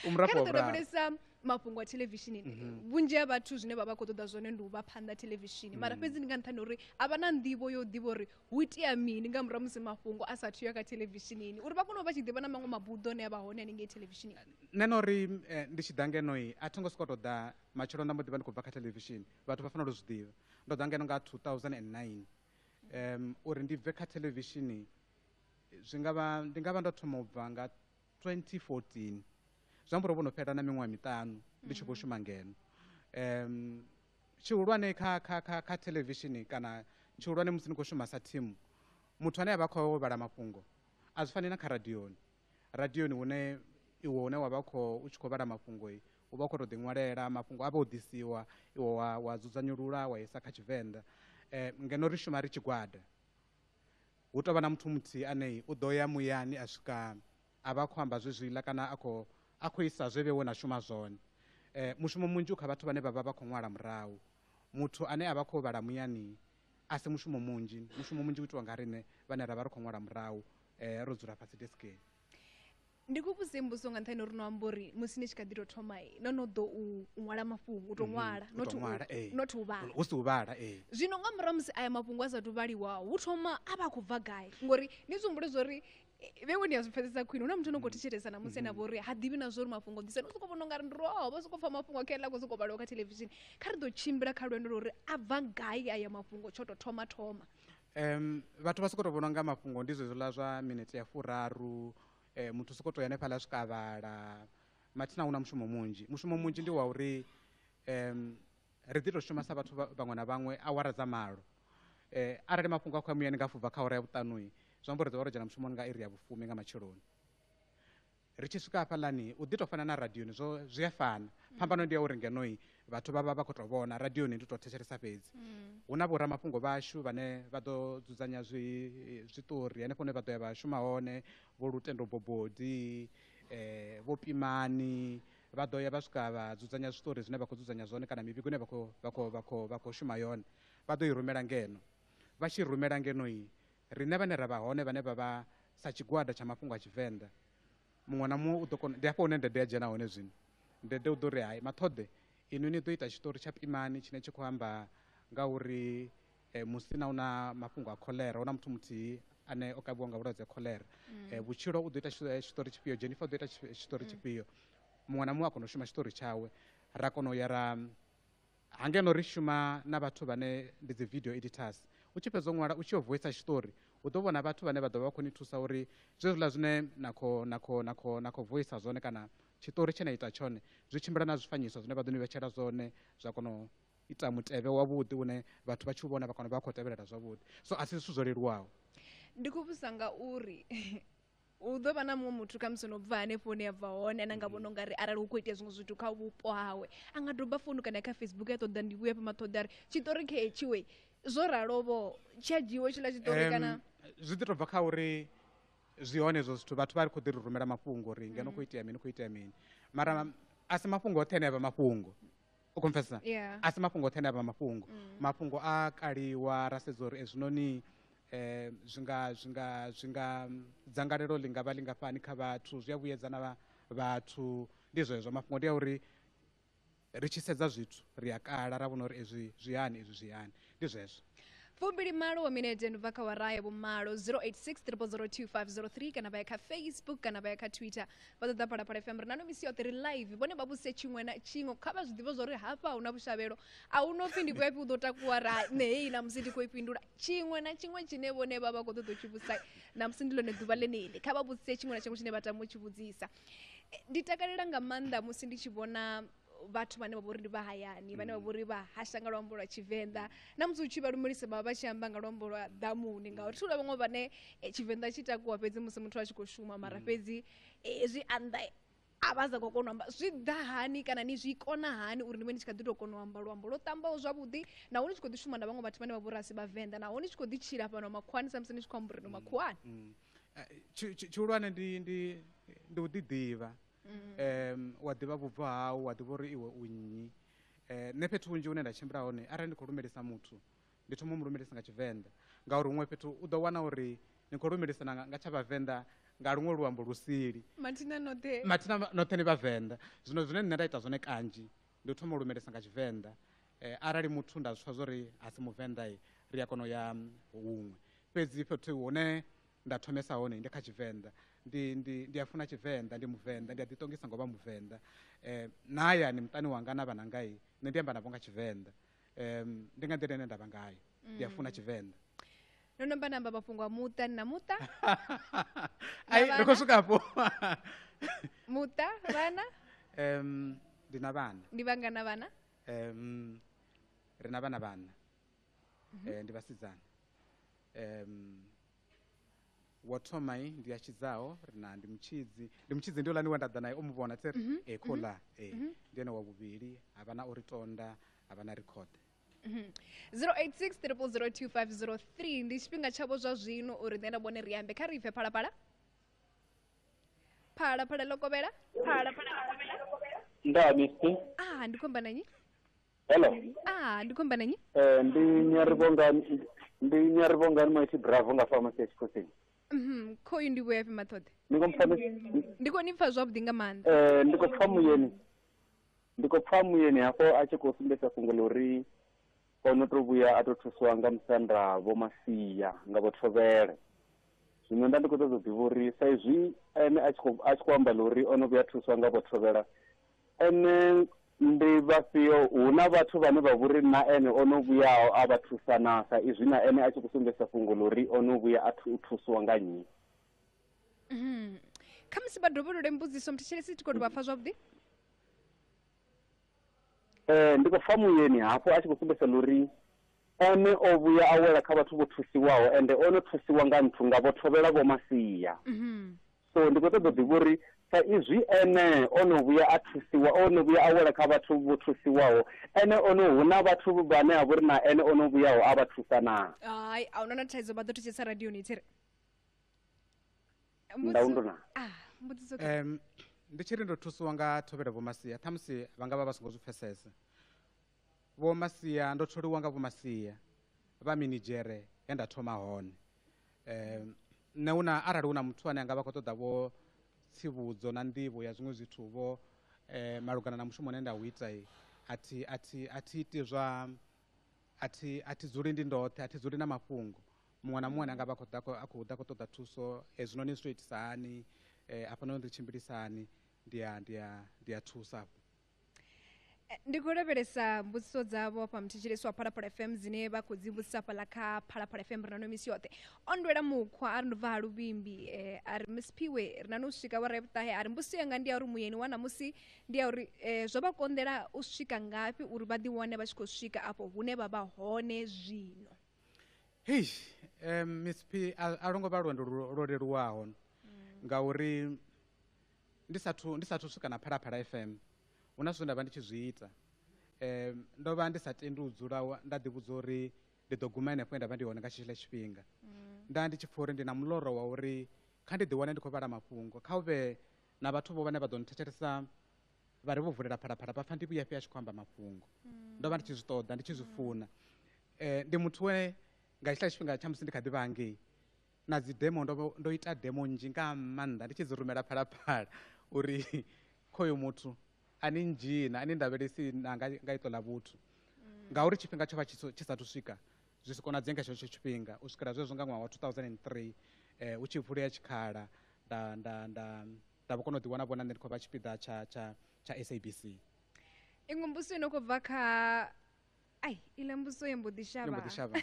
u murafho wa vhuraru mafhungo a theḽevishini mhm. vhunzhi ha vhathu zwine vha vha khou ṱoḓa zwone ndi u vha phanḓa theḽevishini mara mhm. fhedzi ndi nga nṱhani uri a vha na nḓivho yo ḓivha uri hu itea mini nga murahu musi mafhungo a sathu ya kha theḽevishinini uri vha kone u vha tshi ḓivha na maṅwe mabuḓo ane a vha hone hanengei theḽevishini nṋe na uri eh, ndi tshi ḓa ngenoi a tho ngo sokou tou ḓa matshelo nda mbo ḓi vha ndi khou bva kha theḽevishini vhathu vha fanela u zwi ḓivha ndo ḓa ngeno nga 2009 um uri ndi bve kha thelevishini zwi nga vha ndi nga vha ndo thoma u bva nga 2014 zwi amba uri vho no fhela na miṅwaha miṱanu ndi tshi khou mm. shuma ngeno um tshihulwane kha kha kha kha thelevishini kana tshihulwane musi ni khou shuma sa thimu muthu ane a vha khou vhala mafhungo a zwi fani na kha radioni radioni hune iwe hune wa vha kho u tshi khou vhala mafhungo u vha u khou tou ḓiṅwalela mafhungo a vha o ḓisiwa iwe wa wa dzudzanyulula wa isa kha tshivenḓa um ngeno ri shuma ri tshigwada hu tou vha na muthu muthihi ane u ḓo ya muyani a swika a vha khou amba zwezwiḽa kana a khou a khou isa zwe vhe wo na shuma zwone um mushumo munzhi u kha vhathu vhane vha vha vha khou ṅwala murahu muthu ane a vha khou vhala muyani a si mushumo munzhi mushumo munzhi u itiwa nga riṋe vhane ra vha ri khou ṅwala murahu eh, ro dzula fhasi deskeni ndi ku vhudze mbudziso nga nṱhani uri no amba uri musi ni tshi kha ḓi tou thoma no no ḓo u ṅwala mafhungo u tou mhm, ṅwala eh. not u vhala hu si u vhala eh. zwino nga murahu musi aya mafhungo a sa tou vhaliwa hu thoma a vha khou bva gai ngori ni zwi humbule zwa uri vhewe ni a zwi pfesesa khwine hu na muthu no khou thetshelesa na musi ene vho uri ha ḓivhi na zwa uri mafhungo ḓisa ni u sokou vhona ungari ndi roho vha sokou pfa mafhungo a khaela khou sokou vhaliwa kha thelevishini kha ri ḓo tshimbila kha lwendo lwa uri a bva gai aya mafhungo tsho tou thoma thoma Um vhathu vha sokou tou vhona unga mafhungo ndi zwezwiḽa zwa minete ya furaru um muthu u sokou tou ya hanefhaḽa zwi kavhala mathina hu na mushumo munzhi mushumo munzhi ndi wa uri um ri ḓi tou shuma sa vhathu vhaṅwe na vhaṅwe awara dza malo um arali mafhungo a khou ya muyani nga afho ubva kha awara ya vhuṱanui zwi amba uri ri ḓo vha ro dzhena mushumoni nga iri ya vhufumi nga matsheloni ri tshi swika hafhaḽani u ḓi tou fana na radioni zwo zwi a fana mm. phambano ndi ya uri ngenoi vhathu vha vha vha khou tou vhona radioni ndi tou thetshelesa fhedzi mm. hu na vhoramafhungo vhashu vhane vha ḓo dzudzanya zwi zwiṱori henefho hune vha ḓo ya vha shuma hone vho lutendo bobodi eh vho pimani vha ḓo ya vha swika vha dzudzanya zwiṱori zwine vha khou dzudzanya zwone kana mivhigo ine vha khou vha khou vha khou vha khou shuma yone vha ḓo i rumela ngeno vha tshi rumela ngenoi Riṋe vhane ra vha hone vhane vha vha sa tshigwada tsha mafhungo a Tshivenḓa, muṅwe na muṅwe u ḓo kona, ndi hafha hune Ndede ya dzhena hone zwino. Ndede u ḓo ri, Hai Maṱhoḓe, inwi ni ḓo ita tshiṱori tsha Pimani tshine tshi khou amba nga uri Musina u na mafhungo a kholera, hu na muthu muthihi ane o kavhiwa nga vhulwadze ha kholera. Vhutshilo u ḓo ita tshiṱori tshifhio, Jennifer u ḓo ita tshiṱori tshifhio. Muṅwe na muṅwe a kona u shuma tshiṱori tshawe, ra kona u ya ra Ha ngeno ri shuma na vhathu vhane ndi dzi video editors. U tshi fhedza u ṅwala u tshi yo voisa tshiṱori, u ḓo vhona vhathu vhane vha ḓo vha vha khou ni thusa uri zwezwiḽa zwine na kho na kho na kho na kho voisa zwone kana tshiṱori tshe na ita tshone zwi tshimbila na zwifanyiso zwine vha ḓo ni vhetshela zwone zwa kona u ita mutevhe wavhuḓi une vhathu vha tshi u vhona vha kona u vha vha khou tevhelela zwavhuḓi so a si zwithu zwo leluwaho. Ndi khou vhudzisa ngauri hu ḓo vha na muṅwe muthu khamusi no bva hanefho hune ya bva hone ane a nga vhona u nga ri arali hu khou itea zwiṅwe zwithu kha vhupo hawe a nga doba founu kana kha facebook ya ṱoḓa ndi vhuya pama ṱhoḓa ri tshiṱori khe tshiwe zwo ralovo tsha dzhiiwe tshiḽa tshiṱori kana zwi ḓi tou bva kha uri zwi hone hezwo zwithu vhathu vha ri khou ḓi ri rumela mafhungo uri ngeno khou itea mini khou itea mini mara a si mafhungo oṱhe ane a vha mafhungo u confessa yeah. a si mafhungo oṱhe ane a vha mafhungo mm. mafhungo a kaliwa ra sedza uri ezwinoni eh, um zwi nga zwi nga zwi nga dzangalelo ḽi nga vha lingafhani kha vhathu zwi a vhuyedza na vhathu ndi zwezwo mafhungo ndi a uri ri tshi sedza zwithu ri a kala ra vhona uri ezwi zwi hani ezwi zwi hani ndi zwezwo fumbilimalo wa minete ndi bva kha wara ya vhumalo 0863002503 kana vha ya kha facebook kana vha ya kha twitter vha ṱoḓa phalaphala fm ri nano misi yoṱhe ri live vhone vha vhuse tshiṅwe na tshiṅwe kha vha zwi ḓivhe zwa uri hafha hu na vhushavhelo a hu no pfi ndi khou ya pfi u ḓo takuwa ra nṋe heyi na musi ndi khou i fhindula tshiṅwe na tshiṅwe tshine vhone vha vha khou ṱoḓa u tshi vhusa na musi ndi ḽone ḓuvha ḽeneḽi kha vha vhuse tshiṅwe na tshiṅwe tshine vha tama u tshi vhudzisa Eh, ndi takalela nga maanḓa musi ndi tshi vhona vhathu vhane vha vhori ndi vha hayani vhane vha mm. vhori vha hasha nga luambo lwa tshivenḓa na musi u tshi vha lumelisa vha vha tshi amba nga luambo lwa ḓamuni ngauri thula vhaṅwe vhane eh, tshivenḓa tshi takuwa fhedzi musi muthu a tshi khou shuma mara mm. fhedzi eh, zwi anḓa a vha sa khou kona u amba zwi ḓa hani kana ni zwi kona hani uri ni vhe ni tshi kha ḓi tou kona u amba luambo lwo ṱambaho zwavhuḓi naho ni tshi khou ḓi shuma na vhaṅwe vhathu vhane vha vhori a si vhavenḓa naho ni tshi khou ḓi tshila fhano makhuwani samusi ni tshi khou amba uri no mm, makhuwani tshihulwane ndi u ḓiḓivha mm. um wa ḓivha vhubvo hau wa ḓivha uri iwe u nnyi um nṋe fhethu hunzhi hune nda tshimbila hone arali ndi khou lumelisa muthu ndi thoma mu lumelisa nga tshivenḓa ngauri huṅwe fhethu u ḓo wana uri ni khou lumelisana nga tsha vhavenḓa nga luṅwe luambo lusili mathina noṱhe ni vhavenḓa zwino zwine nṋe nda ita zwone kanzhi ndi u thoma u lumelisa nga tshivenḓa um arali muthu nda zwi pfa zwo ri a si muvenḓa ri a kona u ya huṅwe fhedzi fhethu hune Nda thomesa hone ndi kha Tshivenḓa. Ndi, ndi, ndi a funa Tshivenḓa, ndi Muvenḓa, ndi a ḓiṱongisa ngo vha Muvenḓa. Um, na hayani muṱani wanga na vhanangai, nṋe ndi amba navho nga Tshivenḓa. Um, ndi nga nḓila ine nda vha ngayo. Ndi a funa mm. Tshivenḓa. no no amba namba mafhungo a muṱa ni na muṱa ai ri khou swika afho muṱa vhana um ndi na vhana ndi vhangana vhana um ri na vhana vhana eh, ndi vhasidzana um wo thoma i ndi ya tshidzaho ri na ndi mutshidzi ndi mutshidzi ndi ulani we nda ḓa naye o mu vhona tse ri e khou ḽa e ndi ene wa vhuvhili ha vha na o ri tonda ha vha na ri khoḓe 0860002503 ndi tshifhinga tshavho zwa zwino uri nṋe na vhone ri ambe kha ri bve phalaphala phalaphala ḽo kovhela phalaphala ḽo kovhela ndaa mister ah ndi khomba na nyi hello ah ndi khou amba na nnyi eh ndi nyarivhongani ndi nyarivhongani maiti bravo nga pharmacy ya tshikosini Mhm, khoyu ndi vhuya fhi maṱhoḓe ndi khou mpfa ni- ndi khou ni pfa zwavhuḓi nga maanḓa eh ndi khou pfa muyeni ndi khou pfa muyeni hafho a tshi khou sumbedzisa fhungo ḽa uri o no to vhuya a to thusiwa nga musanda vho masia nga vho thovhele zwino nda ndi khou ṱoḓa u ḓivha uri sa izwi ene a tshi khou a tshi khou amba ḽa uri o no vhuya a thusiwa nga vho thovhela Ene ndi vhafhio? Hu na vhathu vhane vha vho ri na ene o no vhuyaho a vha thusa naa? Sa izwi na ene a tshi khou sumbedzisa fhungo ḽa uri o no vhuya a thu, thuswa nga nnyi. Khamusi vha dovholole mbudziso muthetshelesi tshi khou tou vha pfa zwavhuḓi. Ee, ndi khou pfa muyeni hafhu a tshi khou sumbedzisa ḽa uri ene o vhuya a wela kha vhathu vho thusiwaho ende o no thusiwa nga nthu nga vho thovhela vho masia. So ndi khou ṱoḓa u ḓivha uri sa izwi ene o no vhuya a thusiwa, o no vhuya a wela kha vhathu vho thusiwaho, ene o no hu na vhathu vhane ha vha uri na ene o no vhuyaho a vha thusa naa? Hai, a huna na thaidzo vha ḓo thetshelesa radioni i tshi ri. Ndaundu naa? Ah, mbudziso ke. Em, ndi tshi ri ndo thusiwa nga thovhela vhomasia ṱhamusi vha nga vha vha songo zwi pfesesa Vho Masia, Ndo tholiwa nga Vho Masia vha minidzhere he nda thoma hone. Nṋe hu na, arali hu na muthu ane a nga vha khou ṱoḓa vho tsivhudzo na nḓivho ya zwiṅwe zwithu vho malugana na mushumo une nda u ita, a thi, a thi, a thi iti zwa, a thi, a thi dzuli ndi ndoṱhe, a thi dzuli na mafhungo. Muṅwe na muṅwe ane a nga vha a khou ḓa, a khou ḓa a khou ṱoḓa thuso, hezwinoni zwi tou itisa hani, hafhanoni ri tshimbilisa hani, ndi a, ndi a, ndi a thusa. Eh, ndi khou lavhelesa mbudziso dzavho fha muthetshelesi wa phalaphala fm dzine vha khou dzi vhudzisa fhaḽa kha phalaphala fm ri na no misi yoṱhe o ndwela mukhwa a ri ndo bva ha luvhimbi um a ri misiphiwe ri na no swika wa rebutahe a ri mbudziso yanga ndi ya uri muyeni wa ṋamusi ndi ya uri um zwo vha konḓela u swika ngafhi uri vha ḓiwane vha tshi khou swika afho hune vha vha hone zwino hei um misiphi a a lwo ngo vha lwendo lwo lwo leluwaho ngauri Ndi sathu, ndi sathu swika na Phalaphala FM, hu na zwithu zwe nda vha ndi tshi zwi ita. Um, ndo vha ndi sa tendi u dzula wa- nda ḓivhudza uri ndi ḓo guma henefho he nda vha ndi hone nga tshetshiḽa tshifhinga. Nda ndi tshi pfha uri ndi na muloro wa uri kha ndi ḓiwane ndi khou vhala mafhungo, kha hu vhe na vhathu vho vhane vha ḓo nthetshelesa vha ri vho vulela Phalaphala vha pfha ndi vhuya fhi a tshi khou amba mafhungo. Ndo vha ndi tshi zwi ṱoḓa, ndi tshi zwi funa. Eh, ndi muthu we nga hetshiḽa tshifhinga tsha musi ndi kha ḓi vha hangei, na dzi demo ndo ndo ita demo nzhi nga maanḓa ndi tshi dzi rumela phalaphala uri khoyo muthu ani ndzhina ani ndavhelesi na nga nga iṱo ḽa vhuthu mm. ngauri tshifhinga tsho vha tshi sathu swika zwi si konadzee nga tshetsho tshifhinga u swikela zwezwo nga ṅwaha wa 2003 eh, u tshi vulea tshikhala nda nda nda nda vho kona u ḓiwana vhona nṋe ndi khou vha tshipiḓa tsha tsha tsha sabc iṅwe mbusi ino khou bva kha ai iḽa mbudziso ye mbo ḓi shavha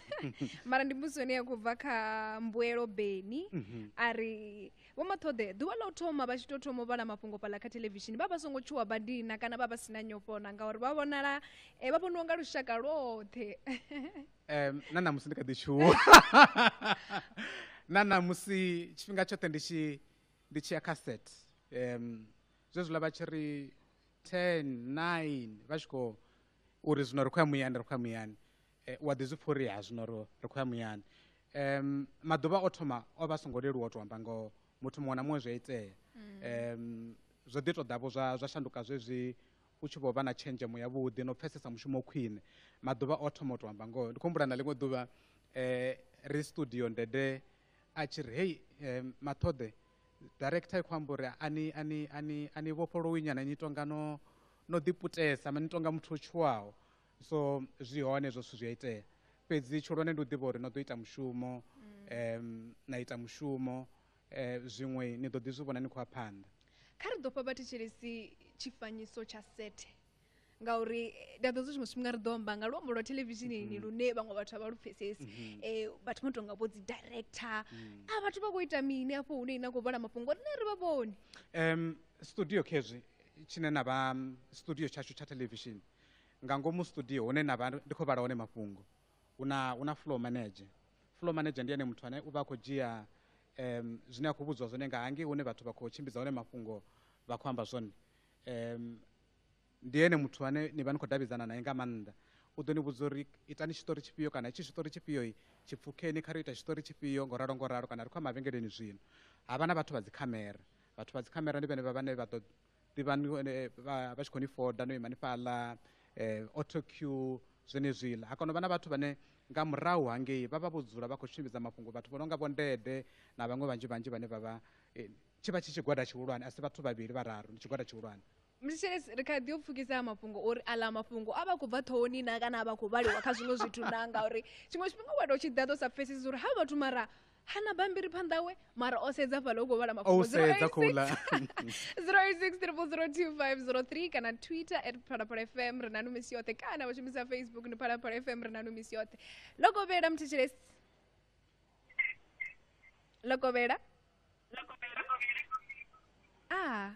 mara ndi mbudziso ine ya khou bva kha mbuelo beni mhm. a ri vho maṱhoḓe ḓuvha ḽa u thoma vha tshi tou thoma u vhala mafhungo fhaḽa kha thelevishini vha vha songo tshuwa badina kana vha vha si na nyofhona ngauri vha vhonala eh, vha vhoniwa nga lushaka lwoṱhe um na ṋamusi ndi kha ḓi tshuwa na ṋamusi tshifhinga tshoṱhe ndi tshi ndi tshi ya kha set um zwezwiḽa vha tshi ri ten nine vha tshi khou uri zwino ri khou ya muyani ri khou ya muyani eh, wa ḓi zwi pfha uri ha zwino ro- ri khou ya muyani um maḓuvha o thoma o vha a songo leluwa u tou amba ngoho muthu muṅwe na muṅwe zwi a itea um zwo ḓi tou ḓavho zwa zwa shanduka zwezwi u tshi vho vha na tshenzhemo yavhuḓi no pfesesa mushumo khwine maḓuvha o thoma u tou amba ngoho ndi khou humbula na ḽiṅwe ḓuvha um ri studio ndede a tshi ri hei um maṱhoḓe director i khou amba uri ani ani ani ani vhofholowi nyana ni tonga no no ḓi putesa mani tonga muthu o tshuwaho so zwi hone zwo zwithu zwi a itea fhedzi tshihulwane ndi u ḓivha uri no ḓo ita mushumo um na ita mushumo um zwiṅwe ni ḓo ḓi zwi vhona ni khou ya phanḓa kha ri ḓo fha vhathetshelesi tshifanyiso tsha sethe ngauri ndi a ḓo zwi tshiṅwe tshifhinga ri ḓo amba nga luambo lwa thelevishinini lune vhaṅwe vhathu a vha lu pfesesi um vhathu vho tonga vho dzi director a vhathu vha khou ita mini afho hune ina khou vhala mafhungo rine ri vha vhoni um studio khezwi tshine na vha studio tshashu tsha television nga ngomu studio hune na vha ndi khou vhala hone mafhungo hu na hu na floor manager floor manager ndi ene muthu ane u vha a khou dzhia um, zwine a khou vhudziwa zwone nga hangei hune vhathu vha khou tshimbidza hone mafhungo vha khou amba zwone um, ndi ene muthu ane ni vha ni khou davhidzana naye nga maanḓa u ḓo ni vhudza uri itani tshiṱori tshifhio kana itshi tshiṱori tshifhio tshi pfukeni kha ri ita tshiṱori tshifhio ngo ralo ngo ralo kana ri khou ya mavhengeleni zwino ha vha na vhathu vha dzikhamera vhathu vha dzikhamera ndi vhenevha vhane vha ḓo ḓivha eh, vha tshi khou ni foda no imani fhaḽa um eh, autocue zwenezwiḽa ha kona u vha na vhathu vhane nga murahu hangei vha vha vho dzula vha khou tshimbidza mafhungo vhathu vho no nga vho ndede na vhaṅwe vhanzhi vhanzhi vhane vha vha eh, tshi vha tshi tshigwada tshihulwane a si vhathu vhavhili vhararu ndi tshigwada tshihulwane mthetshelesi ri kha ḓi u pfukisa a mafhungo uri aḽa mafhungo a vha khou bva ṱhohoni na kana a vha khou vhaliwa kha zwiṅwe zwithu na ngauri tshiṅwe tshifhinga wa tou tshi ḓaḓo sa pfhesesi uri ha vhathu mara hana bambiri phanḓa we mara o sedza fhala u khou vhala mafhungo 086 kana twitter at phalaphala fm ri nanu misi yoṱhe kana vha shumisa facebook ni phalaphala fm ri nanu misi yoṱhe lokovhela mthetshelesi lokovhela a ah.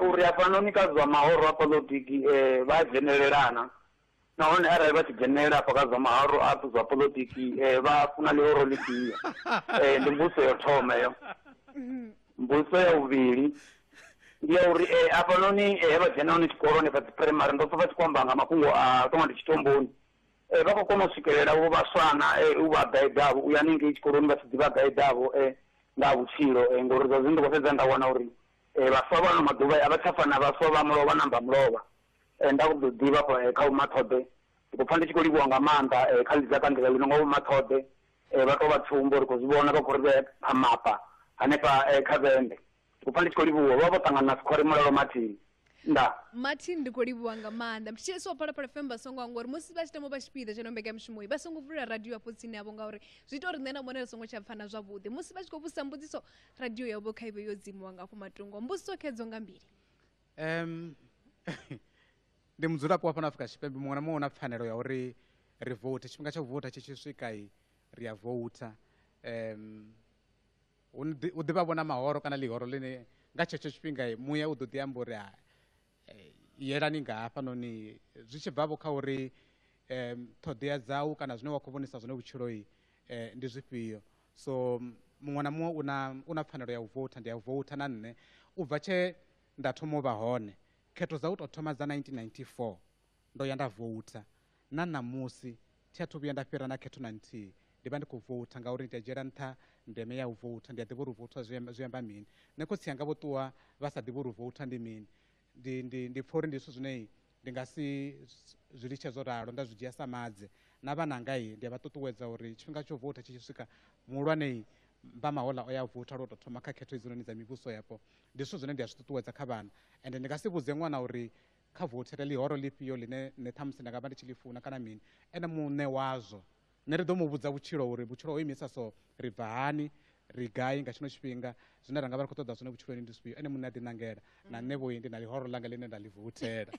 Uri hafhanoni kha zwa mahoro a poḽotiki vha a dzhenelelana, nahone arali vha tshi dzhenelela afha kha zwa mahoro a zwa poḽotiki vha funa ḽihoro ḽifhio. Ndi mbudziso ya u thoma heyo. Mbudziso ya vhuvhili ndi ya uri hafhanoni he vha dzhena hone tshikolo hanefha dzi phuraimari ndo pfha vha tshi khou amba nga mafhungo a tou nga ndi tshitumboni, Vha khou kona u swikelela vho vhaswa na u vha gaidavho u ya hanengei tshikoloni vha tshi ḓi vha gaidavho nga ha vhutshilo ngori zwa zwino ndi khou sedza nda wana uri vhaswa vha ano maḓuvha a vha tsha fana na vhaswa vha mulovha na mbamulovha. Nda khou ḓi ḓivha hafha kha Vho Mathoḓe ndi khou pfha ndi tshi khou livhuwa nga maanḓa kha ḽi dza ṱangela ḽino nga Vho Mathoḓe vha tou vha tsumbo ri khou zwi vhona vha khou ri vhea phamapa hanefha kha vhende. U pfa ndi tshi khou livhuwa. Vho vha vho ṱangana na Sikhwari Mulalo Martin. Ndaa. Martin ndi khou livhuwa nga maanḓa. Ndi tshi tshilisa wa Phalaphala FM vha songo hangwa uri musi vha tshi tama u vha tshipiḓa tsha ino mbekanyamushumo vha songo vulela radio afho tsini havho ngauri zwi ita uri nṋe na vhone ri songo tsha pfana zwavhuḓi. Musi vha tshi khou vhudzisa mbudziso radio yavho kha ivhe yo dzimiwa nga afho matungo. Mbudziso khedzo nga mbili. Um, ndi mudzulapo wa fhano Afrika Tshipembe muṅwe na muṅwe una pfanelo ya uri ri vote tshifhinga tsha u vota tshi tshi swika ri a voter um hu ḓi vha vhona mahoro kana ḽihoro ḽine nga tshetsho tshifhinga muya u ḓo ḓi amba uri eh, yelani nga hafhanoni zwi tshi bvavho kha uri um ṱhoḓea dzau kana zwine wa khou vhonisa zwone vhutshiloi eh, ndi zwifhio so muṅwe na muṅwe una una pfanelo ya u vouta ndi ya u vouta na nṋe u bva tshe nda thoma u vha hone khetho dza u tou thoma dza 1994 ndo ya nda vouta Na ṋamusi, thi athu vhuya nda fhira na khetho na nthihi. Ndi vha ndi khou voutha ngauri ndi a dzhiela nṱha ndeme ya u voutha. Ndi a ḓivha uri u voutha zwi amba, zwi amba mini. Nṋe khotsi anga vho ṱuwa vha sa ḓivhi uri u voutha ndi mini. Ndi, ndi, ndi pfa uri ndi zwithu zwine ndi nga si zwi litshe zwo ralo, nda zwi dzhia sa madze. Na vhananga ndi a vha ṱuṱuwedza uri tshifhinga tsha u voutha tshi tshi swika, muhulwane vha mahoḽa o ya u voutha lwa u tou thoma kha khetho hedzinoni dza mivhusoyapo. Ndi zwithu zwine ndi a zwi ṱuṱuwedza kha vhana. Ende ndi nga si vhudze ṅwana uri kha vothe ri ḽihoro ḽifhio ḽine nṋe ṱhamusi nda nga vha ndi tshi ḽi funa kana mini ene muṋe wazwo nṋe ri ḓo mu vhudza vhutshilo uri vhutshilo ho imisa so ri bva hani ri gai nga tshino tshifhinga zwine ra nga vha ri khou ṱoḓa zwone vhutshiloni ndi zwifhio ene muṋe a ḓiṋangela na nṋe vhoi ndi na ḽihoro ḽanga ḽine nda ḽi vothela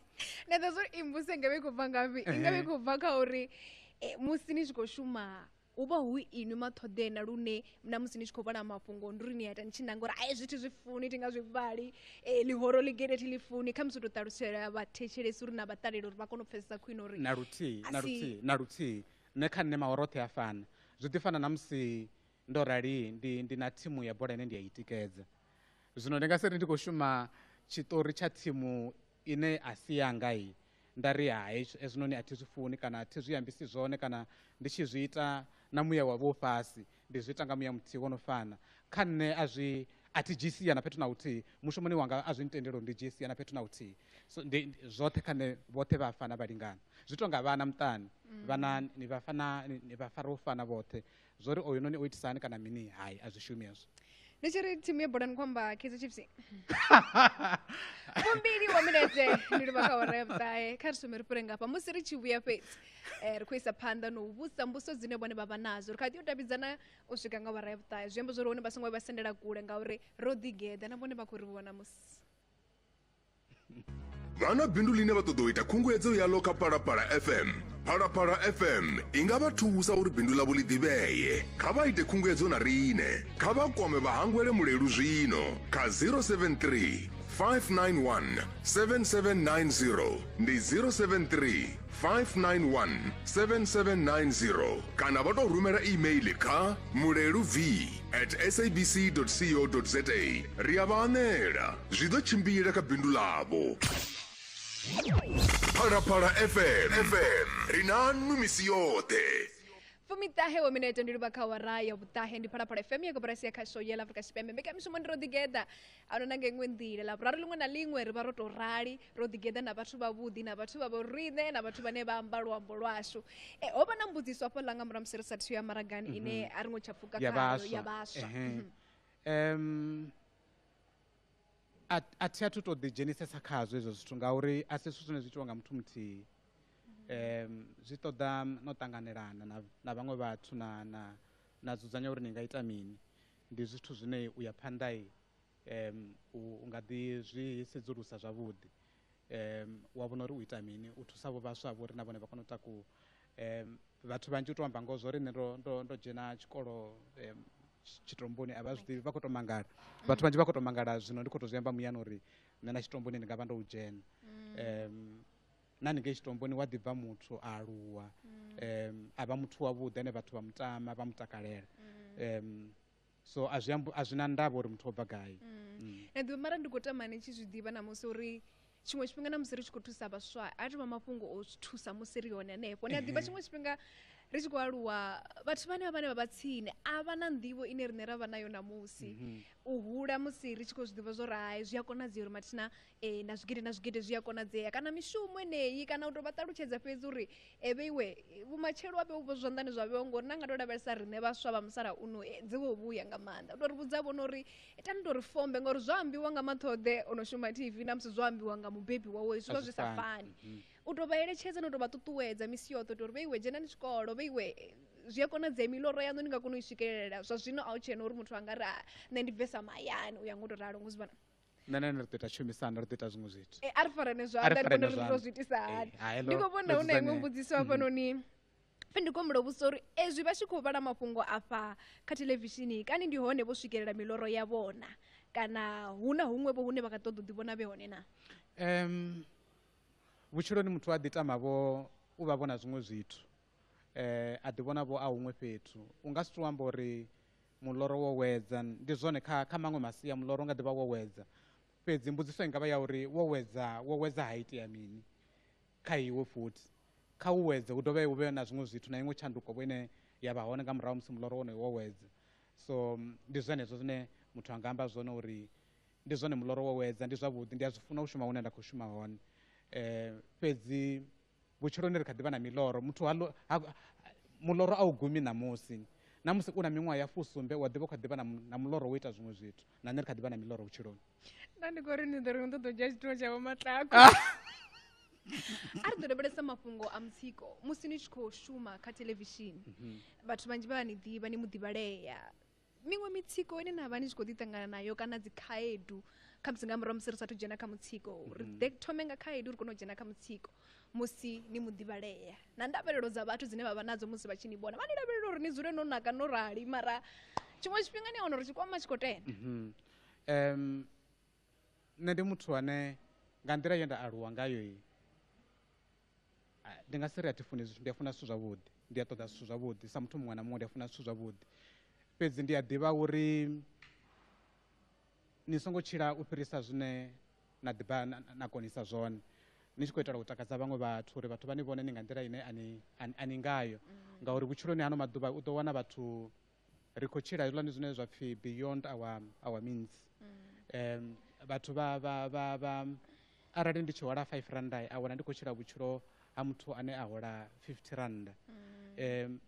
na ḓo zwo imbuse ngavhe i khou bva ngafhi ingavhe i khou bva kha uri musi ni tshi khou shuma hu vha hu inwi mathoḓeena lune na musi ni tshi khou vhala mafhungo ndi uri ni ita ni tshi nanga uri ai zwithu zwi funi thi nga zwi vhali e, ḽihoro ḽi gede thi ḽi funi kha musi u tou ṱalusela vhathetshelesi uri na vha ṱalele uri vha kone u pfesesa khwine uri na luthihi na luthihi na luthihi nṋe kha nṋe maworo oṱhe a fana zwi ḓi fana na musi ndo rali ndi, ndi na thimu ya bola ine ndi a i tikedza zwino ndi nga si ri ndi khou shuma tshiṱori tsha thimu ine a si yanga i nda ri hai hezwinoni a thi zwi funi kana a thi zwi ambisi zwone kana ndi tshi zwi ita na muya wa vho fhasi ndi zwi ita nga muya muthihi wo no fana kha nṋe a zwi a thi dzhii sia na fhethu na huthihi mushumoni wanga a zwi ntendeli uri ndi dzhie sia na fhethu na huthihi so ndi zwoṱhe kha nṋe vhoṱhe vha fana vha lingana zwi tonga vhana muṱani vhana ni vha fana ni vha fara u fana vhoṱhe zwo ri oyu noni o itisa hani kana mini hai a zwi shumi hezwo ni tshi ri thimu ya bolani khou amba kaizer chiefs fumbili wa minetse ni livha kha hora ya vhuṱahe kha ri sume ri fhire ngafha musi ri tshi vhuya fhedzi um ri khou isa phanḓa na u vhusa mbuso dzine vhone vha vha nadzo ri kha ḓi u davhidzana u swika nga hora ya vhuṱahe zwi amba zwo ri hone vha songo vha sendela kule ngauri ro ḓigeḓa na vhone vha khou ri vhona musi vha na bindu ḽine vha ṱoḓa u ita khunguwedzo yaḽo kha phalaphala fm phalaphala fm i nga vha thusa uri bindu ḽavho ḽi ḓivhee kha vha ite khunguwedzo na riṋe kha vha kwame vhahangwele mulelu zwino kha 073 591 7790 ndi 073 591 7790 kana vha tou rumela email kha mulelu v at sabc.co.za ri a vha anela zwi ḓo tshimbila kha bindu ḽavho phalaphala fm fm ri na nnu misi yoṱhe fumiṱahe wa minete ndi luvha kha wara ya vhuṱahe ndi phalaphala fm ya koporasi ya khasho yela afrika tshipembe mbekamishumo ndi ro ḓigeḓa a no na nga iṅwe nḓila ḽaburari ḽiṅwe na ḽiṅwe ri vha ro tou rali ro ḓigeḓa na vhathu vhavhuḓi na vhathu vha vho riṋe na vhathu vhane vha amba luambo lwashu e, ho vha na mbudziso hafho ḽa nga murahu musi ri sathu ya maragani mhm. ine a ri ngo tsha pfuka ya vhaswa um a thi a thu tou ḓidzhenisesa khazwo hezwo zwithu ngauri a si zwithu zwine zwi itiwa nga muthu muthihi um zwi ṱoḓa no ṱanganelana na vhaṅwe vhathu na na na dzudzanya uri ni nga ita mini Ndi zwithu zwine u ya phanḓa um u nga ḓi zwi sedzulusa zwavhuḓi um wa vhona uri u ita mini u thusa vho vhaswa vho ri na vhone vha kone u takuwa um vhathu vhanzhi u tou amba ngoho zwo ri nṋe ndo ndo ndo dzhena tshikolo um tshitomboni a vha zwi ḓivhi vha khou tou mangala mm. vhathu vhanzhi vha khou tou mangala zwino ndi khou tou zwi amba muyani uri nṋe na tshitomboni ndi nga vha ndo u dzhena mm. um na haningei tshitomboni wa ḓi bva muthu a aluwa um a vha muthu wavhuḓi ane vhathu vha mutama vha mutakalela um so a zwi ambu- a zwi na ndavha uri muthu o bva gai Mm. na ḓivha mara ndi khou tama ni tshi zwi ḓivha na musi uri tshiṅwe tshifhinga na musi ri tshi khou thusa vhaswa a tovha mafhungo o zwi thusa musi ri hone hanefho ni a ḓivha tshiṅwe tshifhinga ri tshi khou aluwa vhathu vhane vha vhane vha vha tsini a vha na nḓivho ine riṋe ra vha nayo ṋamusi u hula musi ri tshi khou zwi ḓivha zwo ri hai zwi a konadzea uri mathina Ee, na zwigidi na zwigidi zwi a konadzea kana mishumo eneyi kana u tou vha ṱalutshedza fhedzi uri eve iwe vhumatshelo wa vheu zwanḓani zwa vheo ngori na nga tou lavhelesa riṋe vhaswa vha musalauno dzi vho vhuya nga maanḓa u tou ri vhudza vhona uri tani tou ri fombe ngori zwo ambiwa nga maṱhoḓe o no shuma tv na musi zwo ambiwa nga mubebi wawe zwi vha zwi sa fani mhm. u tou vha eletshedza na u tou vha ṱuṱuwedza misi yoṱhe u tou ri vhe iwe dzhenani tshikolo vhe iwe zwi a konadzea miloro yaṋu ni nga kona u i swikelela zwa zwino a u tshena uri muthu a nga ri nṋe ndi bvesa mahayani u ya ngo tou ralo ngo zwi vhona nṋe na ene ri ḓo ita tshumisano ri ḓo ita zwiṅwe zwithu e, a ri farane zwanḓa ndi vhona uri ro zwi itisa eh, hani ndi khou vhona hu na iṅwe mbudziso hafhanoni mhm. pfe ndi kombula vhusa uri ezwi vha tshi khou vhala mafhungo afha kha thelevishini kani ndi hone vho swikelela miloro ya vhona kana hu na huṅwe vho hune vha nga ṱoḓa u ḓivhona vhe hone na um vhutshiloni muthu a ḓi tama vho u vha vhona zwiṅwe zwithu eh, a ḓivhona vho a huṅwe fhethu u nga si tou amba uri muloro wo wedza ndi zwone kha kha maṅwe masia muloro nga ḓivha wo wedza fhedzi mbudziso i nga vha ya uri wo wedza wo wedza ha itea mini kha iwe futhi kha u wedze hu dovhe hu vhe na zwiṅwe zwithu na iṅwe tshanduko vho ine ya vha hone nga murahu musi muloro wonoyo wo wedza so ndi zwenezwo zwine muthu a nga amba zwone uri ndi zwone muloro wo wedza ndi zwavhuḓi ndi a zwi funa u shuma hune nda khou shuma hone um fhedzi Vhutshiloni ri kha ḓi vha na miloro. Muthu ha, ha, muloro a u gumi ṋamusi. Na musi u na miṅwaha ya fusumbe u a ḓivha u kha ḓi vha na, na muloro wo ita zwiṅwe zwithu. Na nṋe ri kha ḓi vha na miloro vhutshiloni. Nda ndi khou ri ni ḓo ri ni ṱoḓa u dzhia tshithuwa tsha vhomaṱako. Ah! a ri ḓo lavhelesa mafhungo a mutsiko musi ni tshi khou shuma kha theḽevishini mhm. vhathu vhanzhi vha a ni ḓivha ni mu ḓivhalea miṅwe mitsiko ine na vha ni tshi khou ḓi ṱangana nayo kana dzi khaedu kha musi nga murahu musi ri sathu dzhena kha mutsiko ri mhm. ḓe thome nga khaedu ri kone u dzhena kha mutsiko musi ni muḓivhalea na ndavhelelo dza vhathu dzine vha vha nadzo musi vha tshi ni vhona vha ni lavhelela uri ni dzule no naka no rali mara tshiṅwe tshifhinga ni a wana uri tshikwama tshi khou tenda um mhm. nṋe ndi muthu ane nga nḓila ye nda aluwa ngayo Ah, ndi nga si ri a thi funi zwithu ndi a funa zwithu zwavhuḓi ndi a ṱoḓa zwithu zwavhuḓi sa muthu muṅwe na muṅwe ndi a funa zwithu zwavhuḓi fhedzi ndi a ḓivha uri ni songo tshila u fhirisa zwine na ḓivha na konisa zwone ni tshi khou itela u takadza vhaṅwe vhathu uri vhathu vha ni vhone ni nga nḓila ine a ni ngayo mm. ngauri vhutshiloni hano maḓuvha u ḓo wana vhathu ri khou tshila hezwiḽani zwine zwa pfhi beyond our, our means um vhathu vha vha vha vha arali ndi tshi hola five randa a wana ndi khou tshila vhutshilo ha muthu ane a hola fifty randa um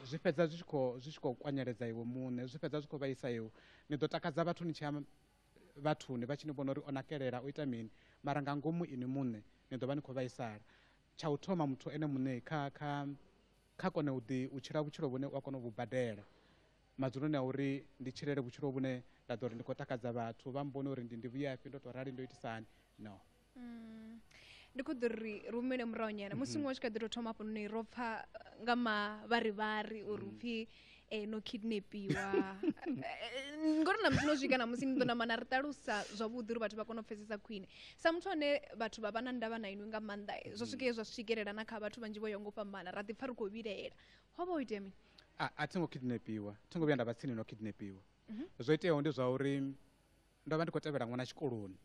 zwi fhedza zwi tshi khou zwi tshi khou kwanyeledza iwe muṋe zwi fhedza zwi khou vhaisa iwe ni ḓo takadza vhathu ni tshi ya vhathuni vha tshi ni vhona uri o nakelela o ita mini mara nga ngomu ini muṋe ni ḓo vha ni khou vhaisala tsha u thoma muthu ene muṋe kha kha kha kone u ḓi u tshila vhutshilo vhune u a kona u vhu badela madzuloni a uri ndi tshilele vhutshilo vhune nda ḓo ri ndi khou takadza vhathu vha mbone uri ndi ndi vhuyafhi ndo tou rali ndo itisa hani no mm. ndi khou ḓo ri ri humele murahu nyana musi mhm. muṅwe tshi kha ḓi tou thoma hafhanoni ro pfha nga mavharivhari uri upfhi mm. e no kidnapiwa eh, ngori na musi no swika na musi ni ḓo namana ri ṱalusa zwavhuḓi uri vhathu vha kone u pfesesa khwine sa muthu ane vhathu vha vha na ndavha na inwi nga maanḓa eh, zwa swike zwa swikelela na kha vhathu vhanzhi vho yo ngo fhambana ra ḓi pfa ri khou vhilaela ho vha ho itea mini a a thi ngo kidnapiwa thi ngo vhuya nda vha tsini no kidnapiwa Mhm. zwo iteaho ndi zwa uri ndo vha ndi khou tevhela ṅwana tshikoloni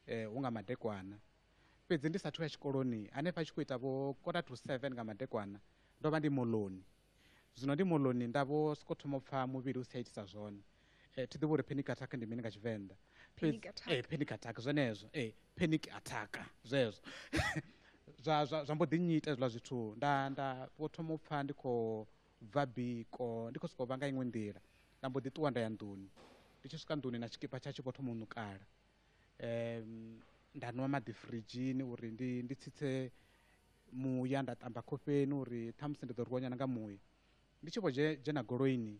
um hu nga madekwana fhedzi ndi sathu ya tshikoloni hanefha a tshi khou ita vho quarter to seven nga madekwana ndo vha ndi moloni Zwino ndi moḽoni nda vho sokou thoma u pfa muvhili u si tsha itisa zwone. Eh, thi ḓivhi uri panic attack ndi mini nga Tshivenḓa. Panic Fhedzi- attack. Eh, panic attack zwenezwo. Eh, panic attack zwezwo. zwa zwa zwa mbo ḓi nnyita hezwiḽa zwithu nda nda vho thoma u pfa ndi khou bva biko ndi khou sokou vha nga iṅwe nḓila nda mbo ḓi ṱuwa nda ya nḓuni ndi tshi swika nḓuni na tshikipa tshatsho vho thoma u ṋukala um nda nwa maḓi firidzhini uri ndi ndi tsitse muya nda ṱamba khofheni uri ṱhamusi ndi ḓo rwiwa nyana nga muya ndi tshi vho dzhena goloini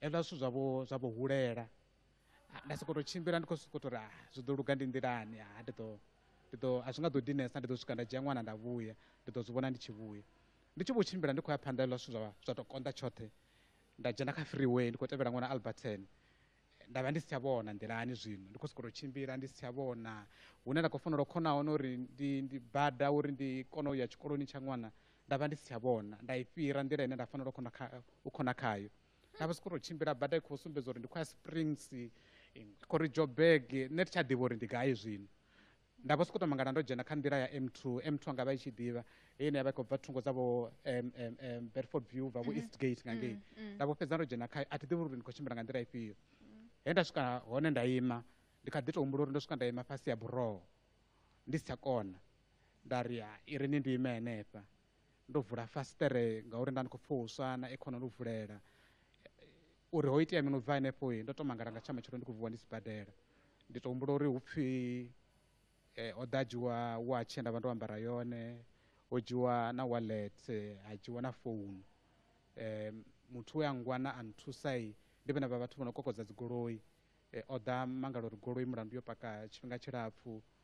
hezwiḽa zwithu zwavho zwa vho hulela nda sokou tou tshimbila ndi khou sokou tou ri ah, zwi ḓo luga ndi nḓilani ha ah, ndi ḓo ndi ḓo a zwi nga ḓo dinesa ndi ḓo swika nda dzhia ṅwana nda vhuya ndi ḓo zwi vhona ndi tshi vhuya ndi tshi vho tshimbila ndi khou ya phanḓa hezwiḽa zwithu zwa zwa tou konḓa tshoṱhe nda dzhena kha freeway ndi khou tevhela ṅwana alberton nda vha ndi si tsha vhona nḓilani zwino ndi khou sokou tou tshimbila ndi si tsha vhona hune nda khou fanela u khona hone uri ndi ndi bada uri ndi kone u ya tshikoloni tsha ṅwana nda vha ndi si tsha vhona nda i fhira nḓila ine nda fanela u khona kha u khona khayo nda vha sokou tou tshimbila bada i khou sumbedza uri ndi khou ya springs i khou ri joburg nṋe thi tsha ḓivha uri ndi gai zwino Nda vho sokou tou mangala ndo dzhena kha nḓila ya M2. M2 anga vha i tshi ḓivha he ine ya vha i khou bva thungo dza vho Bedford View ubva vho East Gate nga ngei. Nda vho fhedza ndo dzhena khayo a thi ḓivhi uri ndi khou tshimbila nga nḓila ifhio. He nda swika hone nda ima ndi kha ḓi tou humbula uri ndo swika nda ima fhasi ha buroho ndi si tsha kona. Nda ri i ri ni ndi ime henefha Ndo vula fasiṱere ngauri nda ndi khou pfha u swa na aircon ndo vulela uri ho itea mini u bva henefho ndo to mangala nga tsha matshelo ndi khou vuwa ndi sibadela ndi to humbula uri hu pfhi ho ḓa dzhiwa watch nda vha ndo ambara yone ho dzhiwa na wallet ha dzhiwa na founu muthu we a ngwana a nthusa ndi vhane vha vhathu vho no kokodza dzigoloi o ḓa mangala uri goloi mulandu yo paka tshifhinga tshilapfhu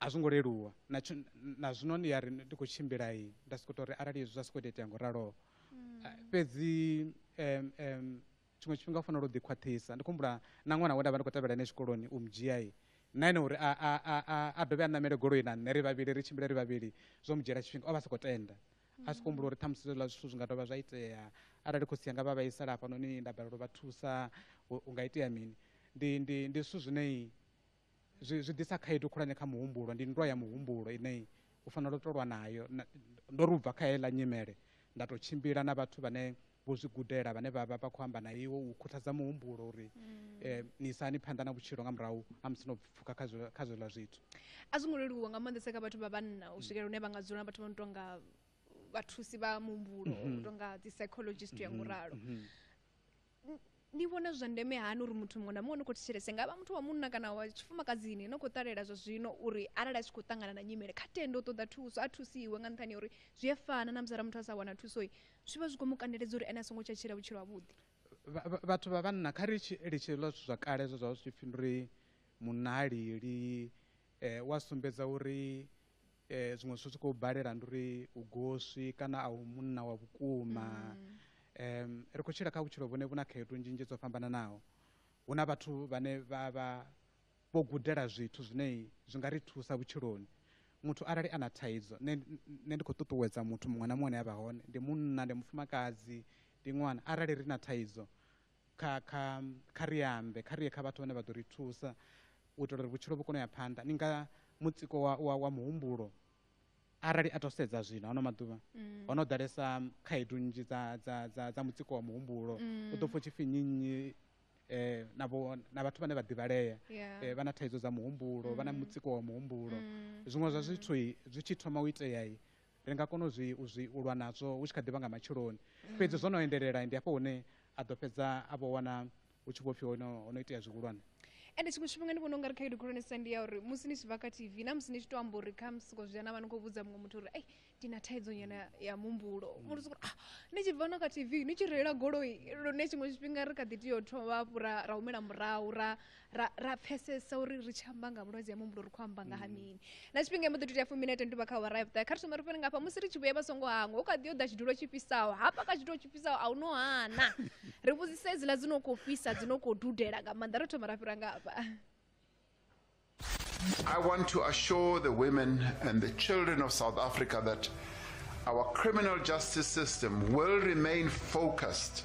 a zwo ngo leluwa na na zwino ni ya ri ndi khou tshimbila i nda sokou tou ri arali hezwi zwa sokou tea itea ngo raloho mm. ah, fhedzi um um tshiṅwe tshifhinga u fanela u ḓikhwaṱhisa ndi khumbula na ṅwana we nda vha ndi khou tevhela ene tshikoloni u mudzhia i na ene uri a dovhe a ṋamele goloi na nṋe ri vhavhili ri tshimbile ri vhavhili zwo mu dzhiela tshifhinga o vha sokou tenda a si kuhumbula uri ṱhamusi zwiḽa zwithu zwi nga dovha zwa itea arali khotsi yanga vha vhaisala hafhanoni nda balelwa vha thusa u nga itea mini ndi ndi ndi zwithu zwinei zwi zwi ḓisa khaedu khulwane kha muhumbulo ndi nndwa ya muhumbulo ine u fanela u tolwa nayo ndo ri ubva kha heiḽa nyimele nda tou tshimbila na vhathu vhane vho zwi gudela vhane vha vha vha khou amba na iwe u khuthadza muhumbulo uri mm. eh, ni isani phanḓa na vhutshilo nga murahu a musi no pfuka kha zwiḽa zwithu a zwi ngo leluwa nga maanḓesa kha vhathu vha vhanna u swikela hune vha nga dzula na vhathu vha no tonga vhathusi vha muhumbulo u mhm. tonga dzi psychologist ya mhm. nguralo mhm. Ni vhona zwi zwa ndeme hani uri muthu muṅwe na muṅwe ni khou thetshelese nga vha muthu wa munna kana wa tshifumakadzini no khou ṱalela zwa zwino uri arali a tshi khou ṱangana na nyimele kha tende u ṱoḓa thuso a thusiwe nga nṱhani ya uri zwi a fana na musi ara muthu a sa wana thuso zwi vha zwi khou mu kandeledza uri ene a songo tsha tshila vhutshilo havhuḓi Vha- vha- vhathu vha vhanna kha ri tshi litshe hezwiḽa zwithu zwa kale zwe zwa vha zwi tshi pfhi ndi uri munna ha lili eh, wa sumbedza uri zwiṅwe zwithu zwi khou balela ndi uri u goswi kana a u munna wa vhukuma um ri khou tshila kha vhutshilo vhune vhu na khaedu nzhi nzhi dzo fhambananaho hu na vhathu vhane vha vha vho gudela zwithu zwine zwi nga ri thusa vhutshiloni muthu arali a na thaidzo nṋe nṋe ndi khou ṱuṱuwedza muthu muṅwe na muṅwe ane a vha hone ndi munna ndi mufumakadzi ndi ṅwana arali ri na thaidzo kha kha kha ri ambe kha ri ye kha vhathu vhane vha ḓo ri thusa u itela uri vhutshilo vhu kone u ya phanḓa ni nga mutsiko wa, wa, wa muhumbulo arali a to sedza zwino ano maḓuvha mm. ho no ḓalesa khaedu nnzhi dza, dza, dza, dza mutsiko wa muhumbulo mm. u ḓo pfo tshipfi nnyi nnyi eh, na, bo, na vhathu vhane vha ḓivhalea yeah. eh, vha na thaidzo dza muhumbulo mm. vha na mm. mutsiko wa muhumbulo mm. zwiṅwe zwa mm. zwithu zwi tshi thoma u itea ri nga kona u zwi u zwi u lwa nazwo hu tshi kha ḓi vha nga matsheloni mm. fhedzi zwo no endelela ndi hafho hune a ḓo fhedza a vho wana hu tshi vho pfhi hono ho no itea zwihulwane ende tshiṅwe tshifhinga ndi vhona ungari khaedu khulwanesa ndi ya uri musi ni tshi bva kha tv na musi ni tshi to amba uri kha musiko zwi ana vha ni khou vhudza muṅwe muthu uri ei ndi na thaidzo nyana ya muhumbulo mm. muthu sokuri ah ni tshi bva no kha tv ni tshi reila goloi lune tshiṅwe tshifhinga ri kha ḓi tea u thoma hafhu ra humela murahu ra ra ra pfesesa uri ri tshi amba nga vhulwadze ha muhumbulo ri khou amba nga ha mm. mini na tshifhinga mbo ḓi tou tea fumi na tenduvha kha awara ya vhuṱae kha ri thoma ri fhele ngafha musi ri tshi vhuya vha songo hangwa u kha ḓi yo ḓa tshidulo tshi fhisaho hafha kha tshidulo tshi fhisaho a u no hana ri vhudzise hedziḽa dzi no khou fhisa dzi no khou dudela nga maanḓa ro thoma ra fhira ngafha I want to assure the women and the children of South Africa that our criminal justice system will remain focused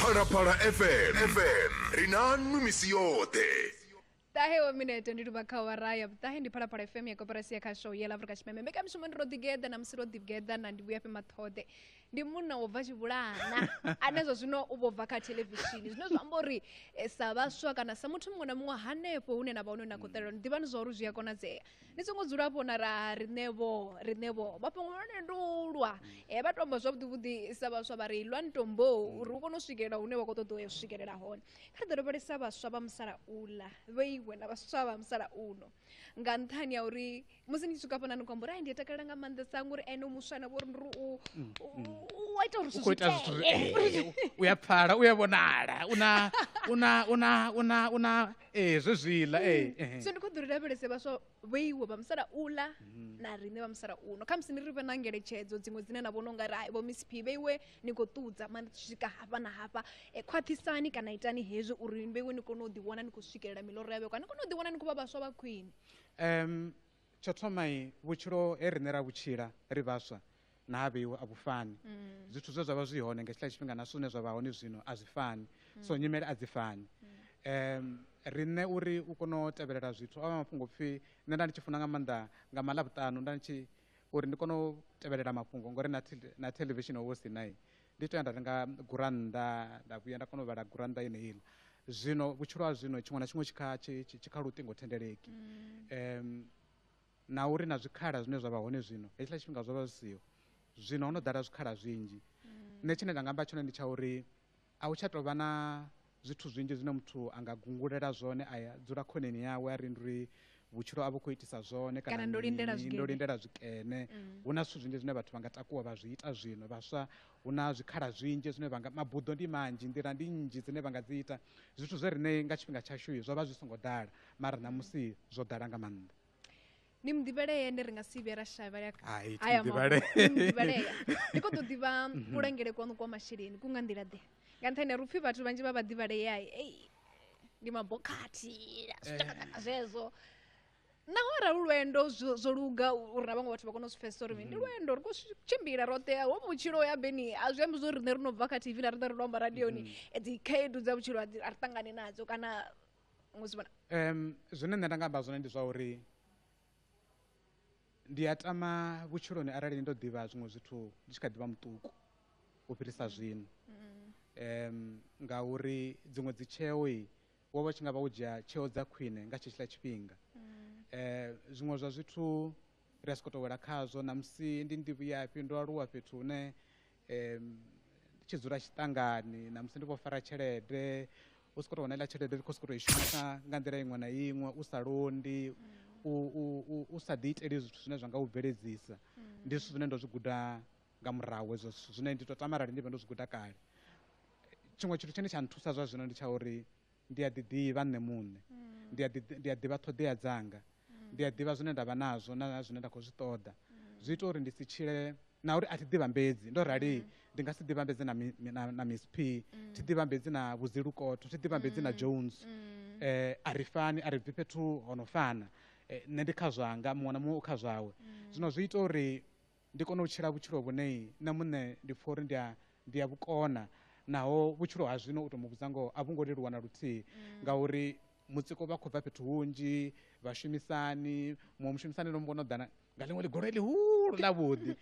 phalaphala fm fm ri na nwi misi yoṱhe ṱahe wa minete ndi luvha kha wara ya vhuṱahe ndi phalaphala fm ya koporasi ya khasho ya lavurika tshipembe mbekamishumo ndi ro ḓigeḓa na musi ro ḓigeḓa na ndi vhuya fhe maṱhoḓe ndi munna wo bva tshivhulana ane zwa zwino u vho bva kha thelevishini zwine zwa amba uri eh, sa vhaswa kana sa muthu muṅwe na muṅwe hanefho hune na vha hone na khou ṱalela ni ḓivhani zwa uri zwi a konadzea ni songo dzula vho na ra riṋe vho riṋe vho mafhungo hone ndi u lwa e vha tou amba zwavhuḓi vhuḓi sa vhaswa vha ri lwani tombo uri u kone u swikelela hune wa khou ṱoḓa u ya u swikelela hone kha ri ḓo lavhelesa vhaswa vha musalauḽa vhe iwe na vhaswa vha musalauno nga nṱhani ya uri musi ni tshi swika hafhanani khou amba uri ai ndi a takalela nga maanḓesa ngori ene muswa na vhori ndi ri u u a ita uri zwithu ita zwithu zwi- eh, u ya pfala u ya vhonala una una una una una ee zwe zwiḽa ee ehe. so ndi khou ḓo ri lavhelese vhaswa vhoiwe vha musalauḽa na riṋe vha musalauno khamusi ni ri vhe na ngeletshedzo dziṅwe dzine na vhona u nga ri hai vho miss p vheiwe ni khou ṱudza mani tshi swika hafha na hafha e, khwaṱhisani kana itani hezwi uri vheiwe ni kone u ḓiwana ni khou swikelela miloro ya vhekwa ni kone u ḓiwana ni khou vha vhaswa vha khwine um Tsho thoma vhutshilo he riṋe ra vhu tshila ri vhaswa na ha vheiwe a vhu fani. Zwithu zwe zwa vha zwi hone nga hetshiḽa tshifhinga na zwithu zwine zwa vha hone zwino a zwi fani. So nyimele a dzi fani. Riṋe uri u kone u tevhelela zwithu o vha a mafhungo o pfhi, nṋe nda ndi tshi funa nga maanḓa nga maḽavhuṱanu nda ndi tshi, uri ndi kone u tevhelela mafhungo ngori na na theḽevishini ho vha hu si na. Ndi to ya nda renga gurannḓa nda vhuya nda kona u vhala gurannḓa ine iḽa zwino vhutshilo ha zwino tshiṅwe na tshiṅwe tshi kha tshi kha luṱingo thendeleki um na uri na zwikhala zwine zwa vha hone zwino hetshiḽa tshifhinga zwo vha zwi siho zwino ho no ḓala zwikhala zwinzhi nṋe tshine nda nga amba tshone ndi tsha uri a hu tsha tou vha na Zwithu zwinzhi zwine muthu a nga gungulela zwone a dzula khoneni yawe a ri ndi uri vhutshilo a vhu khou itisa zwone kana Kana ndo lindela mini, zwikene. ndo lindela zwikene Mm. hu na zwithu zwinzhi zwine vhathu vha nga takuwa vha zwi ita zwino vhaswa hu na zwikhala zwinzhi zwine vha nga mabuḓo ndi manzhi nḓila ndi nnzhi dzine vha nga dzi ita zwithu zwe riṋe nga tshifhinga tshashu zwo vha zwi songo ḓala mara ṋamusi zwo ḓala nga maanḓa ni muḓivhalea ende ri nga si vhuye ra shavhela aya muḓivhalea ni kho ḓo ḓivha mhm. kulangele kwanu kwa masheleni ku nga nḓila ḓe nga nṱhani ya ri upfhi vhathu vhanzhi vha vha ḓivhalea ei ndi mabokhathi zwitakataka eh. zwezwo naho arali lwendo zwo luga uri na vhaṅwe vhathu vha kone u zwi pfesesa uri ndi mm. lwendo ri khou tshimbila roṱhe ho vhutshilo ya beni a zwi ambi zwo riṋe ri no bva kha tv na riṋe ri no amba radioni mm. dzi khaedu dza vhutshilo a ri ṱangane nadzo kana um zwine nṋe nda nga amba zwone ndi zwa uri ndi a tama vhutshiloni arali ndo ḓivha zwiṅwe zwithu ndi tshi kha ḓivha muṱuku u fhirisa zwino um ngauri dziṅwe dzi tsheo i wo vha tshi nga vha wo dzhia tsheo dza khwine nga tshetshiḽa tshifhinga um zwiṅwe zwa zwithu ri a sokou tou wela khazwo ṋamusi ndi ndi vhuyafhi ndo aluwa fhethu hune ndi tshi dzula tshiṱangani na musi ndi khou fara tshelede u sokou tou wana iḽa tshelede ndi khou sokou tou i shumisa nga nḓila iṅwe na iṅwe u sa londi u u u sa ḓi iteli zwithu zwine zwa nga u bveledzisa ndi zwithu zwine ndo zwi guda nga murahu hezwo zwithu zwine ndi tou tama arali ndi vha ndo zwi guda kale tshiṅwe tshithu tshine tsha nthusa zwa zwino ndi tsha uri Ndi a ḓiḓivha nṋe muṋe. Ndi a ḓi, ndi a ḓivha ṱhoḓea dzanga. Ndi a ḓivha zwine nda vha nazwo na zwine nda khou zwi ṱoḓa. Zwi ita uri ndi si tshile na uri a thi ḓivhambedzi. Ndo rali ndi nga si ḓivhambedze na mi, na, na Miss P, thi ḓivhambedzi na Vho Zilukotho, thi ḓivhambedzi na Jones. A ri fani, a ri bvi fhethu ho no fana. Nṋe ndi kha zwanga, muṅwe na muṅwe u kha zwawe. Zwino zwi ita uri. ndi kone u tshila vhutshilo vhune nṋe muṋe ndi pfha uri ndi a ndi a vhukona naho vhutshilo ha zwino u to mu vhudza ngoho a vhu ngo leluwa na luthihi mm. ngauri mutsiko vha khou bva fhethu hunzhi vhashumisani muṅwe mushumisani no mbono ḓana nga ḽiṅwe ḽigolo ḽihulu ḽa vhuḓi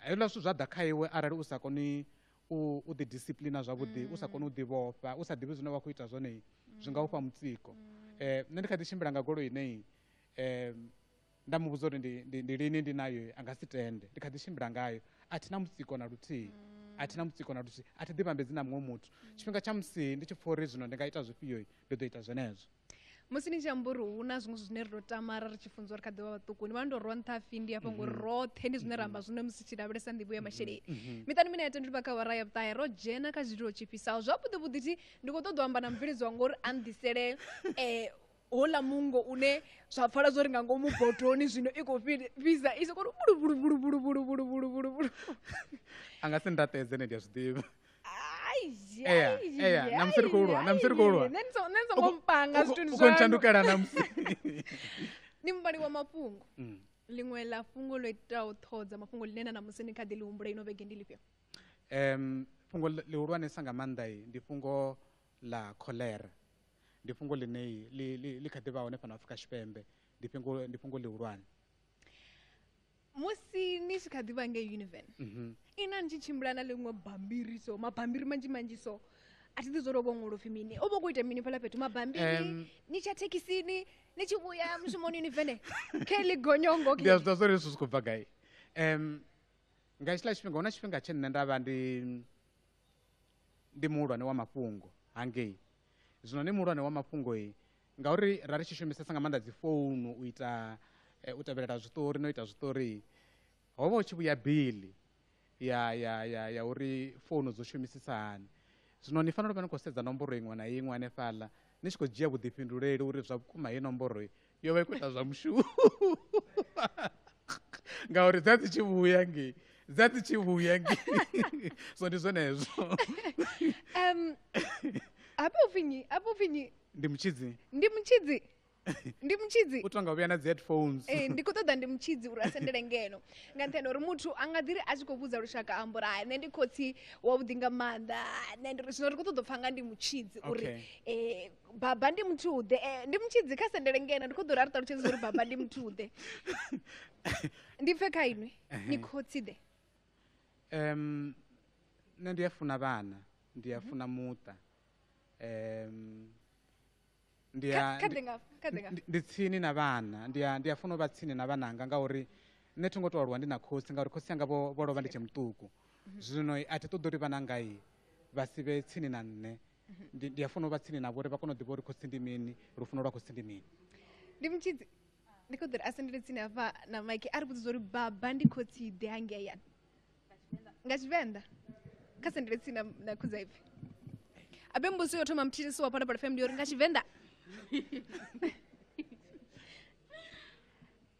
hezwiḽa zwithu zwa ḓa kha iwe arali u sa koni u ḓi disciplina zwavhuḓi u sa koni u ḓi vhofha u sa ḓivhi zwine wa khou ita zwone zwi nga u fha mutsiko um nṋe ndi kha ḓi tshimbila nga goloi inei um nda mu vhudza uri ndi, ndi, ndi lini ndi nayo a nga si tende ndi kha ḓi tshimbila ngayo a thi na mutsiko na luthihi a thi na mutsiko na luthihi a thi ḓi vhambedzi na muṅwe muthu tshifhinga tsha musi ndi tshi pfha uri zwino ndi nga ita zwifhio ndi ḓo ita zwenezwo musi ni tshi amba uri hu na zwiṅwe zwine ri tou tamara ri tshi funza uri kha ḓi vha vhaṱuku ni vha ni tou rwa nṱha hafhi ndi hafha ngori roṱhe ndi zwine ra amba zwino musi tshi lavhelesa nḓivho ya masheleni miṱani mine ya tendeli vha kha wara ya vhuṱahe ro dzhena kha zwililo tshifhisaho zwavhuḓi vhuḓi thi ndi khou ṱoḓa u amba na mubveledzi wa ngori a nḓisele um houḽa mungo une zwa pfala zwo ri nga ngomu botoni zwino i khou fhisa i sokoto bulubulubulubulubulubulubulu a nga si ndaṱedze ne ndi a zwi ḓivha Ea, ea, na musi ri khou lwa, na musi ri khou lwa. nṋe ndi so- nṋe ndi songo mpanga U- zwithu u- ndi u khou ntshandukela na musi ndi muvhali wa mafhungo Mm. ḽiṅwe ḽa fhungo ḽo itaho ṱhoho dza mafhungo ḽine na namusi ni kha ḓi ḽi humbula ino vhege ndi lifhio Em, fhungo ḽi- ḽihulwanesa nga maanḓa i, ndi fhungo ḽa cholera ndi fhungo ḽine ḽi ḽi ḽi kha ḓi vha hone fhano Afrika Tshipembe ndi fhungo ndi fhungo ḽihulwane musi ni tshi kha ḓi vha ngei univen mhm. ina ni tshi tshimbila na ḽiṅwe bambiri so mabambiri manzhi manzhi so a thi ḓi zwo tou vhongola upfhi mini u vha khou ita mini fhala fhethu mabambiri ni tsha thekhisini ni tshi vhuya mushumoni ni vene khe ḽi gonyongo ndi a zwi ḓa zwori zwi si khou bva gai um nga hetshiḽa tshifhinga hu na tshifhinga tshe nṋe nda vha ndi ndi muhulwane wa mafhungo hangei zwino ndi muhulwane wa mafhungo i ngauri ra ri tshi shumisesa nga maanḓa dzi founu u ita eh, u tevhelela zwiṱori no ita zwiṱori ho vha hu tshi vhuya bili ya ya ya ya uri founu dzo shumisisa hani zwino ni fanela u vha ni khou sedza nomboro iṅwe na iṅwe hanefhaḽa ni tshi khou dzhia vhuḓifhinduleli uri zwa vhukuma heyi nomboro yo vha i khou ita zwa mushumo ngauri dza dzi tshi vhuya ngei dza dzi tshi vhuya ngei so ndi zwenezwo um hafha upfi nyi hafha upfi nyi ndi mutshidzi ndi mutshidzi ndi mutshidzi u tonga vhuya na dzi headphones ee eh, ndi khou ṱoḓa ndi mutshidzi uri a sendele ngeno nga nṱhani uri muthu a nga ḓiri a tshi khou vhudza lushaka amba uri hai nṋe ndi khotsi wavhuḓi nga maanḓa nṋe ndi zwino ri khou ṱoḓa u pfha nga ndi mutshidzi uri um baba ndi muthuḓe eh, ndi mutshidzi kha sendele ngena ndi khou ḓo ri a ri ṱalutshedza uri baba ndi muthuḓe ndi pfe kha inwi ni khotsiḓe um nṋe ndi a funa vhana ndi a funa muṱa um ndi a Kha- kha ndi- ḓe ngafha, kha ḓe ngafha. ndi- ndi tsini na vhana ndi a ndi a funa u vha tsini na vhananga ngauri nṋe thi ngo to aluwa ndi na khosi ngauri khosi yanga vho vho lovha ndi tshe muṱuku zwino a thi ṱoḓi uri vhananga i vha si vhe tsini na nṋe ndi ndi a funa u vha tsini navho uri vha kone u ḓivha uri khotsi ndi mini lufuno lwa khotsi ndi mini ndi mutshidzi ndi khou ḓo ri a sendele tsini hafha na mike a ri vhudzisa uri baba ndi khotsi ḓe hangei ya nga tshivenḓa kha sendele tsini na, na khudzaipfi abe mbudziso yo thoma mthithisi wa phalaphala fm ndi uri nga tshivenḓa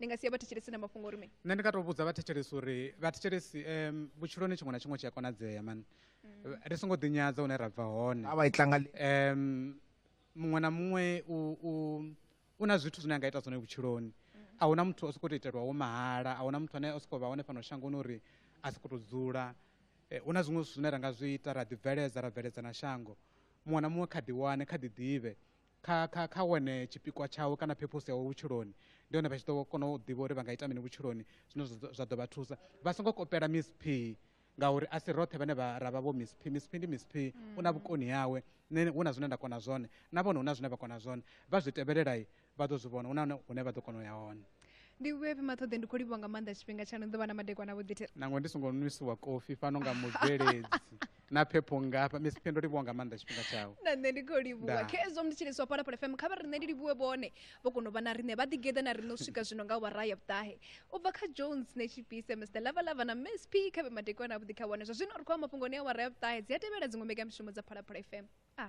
ni nga sia vhathetshelesi na mafhungo uri mini nṋe ndi nga to vhudza vhathetshelesi uri vhathetshelesi um vhutshiloni tshiṅwe na tshiṅwe tshi a konadzea mani mm. ri songo ḓinyadza hune ra bva hone a vha itlanga um muṅwe na muṅwe u u u na zwithu zwine a nga ita zwone vhutshiloni mm. a huna muthu o sokou to itelwa wo mahala a huna muthu ane o sokou vha hone fhano shangoni uri a sokou to dzula eh, hu na zwiṅwe zwithu zwine ra nga zwi ita ra ḓibveledza ra bveledza na shango muṅwe na muṅwe kha ḓi wane kha ḓi ḓivhe kha kha kha wane tshipikwa tshawe kana phephosi yawe vhutshiloni ndi hone vha tshi ḓo kona u ḓivha uri vha nga ita mini vhutshiloni zwine zwa ḓo vha thusa vha songo kopela miss p ngauri a si roṱhe vhane vha ra vha vho miss p miss p ndi miss p u na vhukoni yawe nṋe hu na zwine nda kona zwone na vhone hu na zwine vha kona zwone vha zwi tevhelelai vha ḓo zwi vhona hu na hune vha ḓo kona u ya hone ndi vhuya vhima ṱhoḓe ndi khou livhuwa nga maanḓa tshifhinga tshaṋu ḓo vha na madekwana vhuḓithe nangwe ndi songo nwisiwa kofi fhano nga mubveledzi na phepho ngafha miss pendo livhuwa nga maanḓa tshifhinga tshawe na nṋe ndi khou livhuwa Ndaa. khezwo mthetshelesi wa phalaphala fm kha vha riṋe ndi livhuwe vhone vho kona u vha na riṋe vha ḓigeḓa na riṋe u swika zwino nga wara ya vhuṱahe u bva kha jones netshipise mr lavalava na miss p kha vhe madekwana avhuḓi kha wane zwa zwino ri khou amba mafhungoni a wara ya vhuṱahe dzi a tevhela dziṅwe mbekamishumo dza phalaphala fm a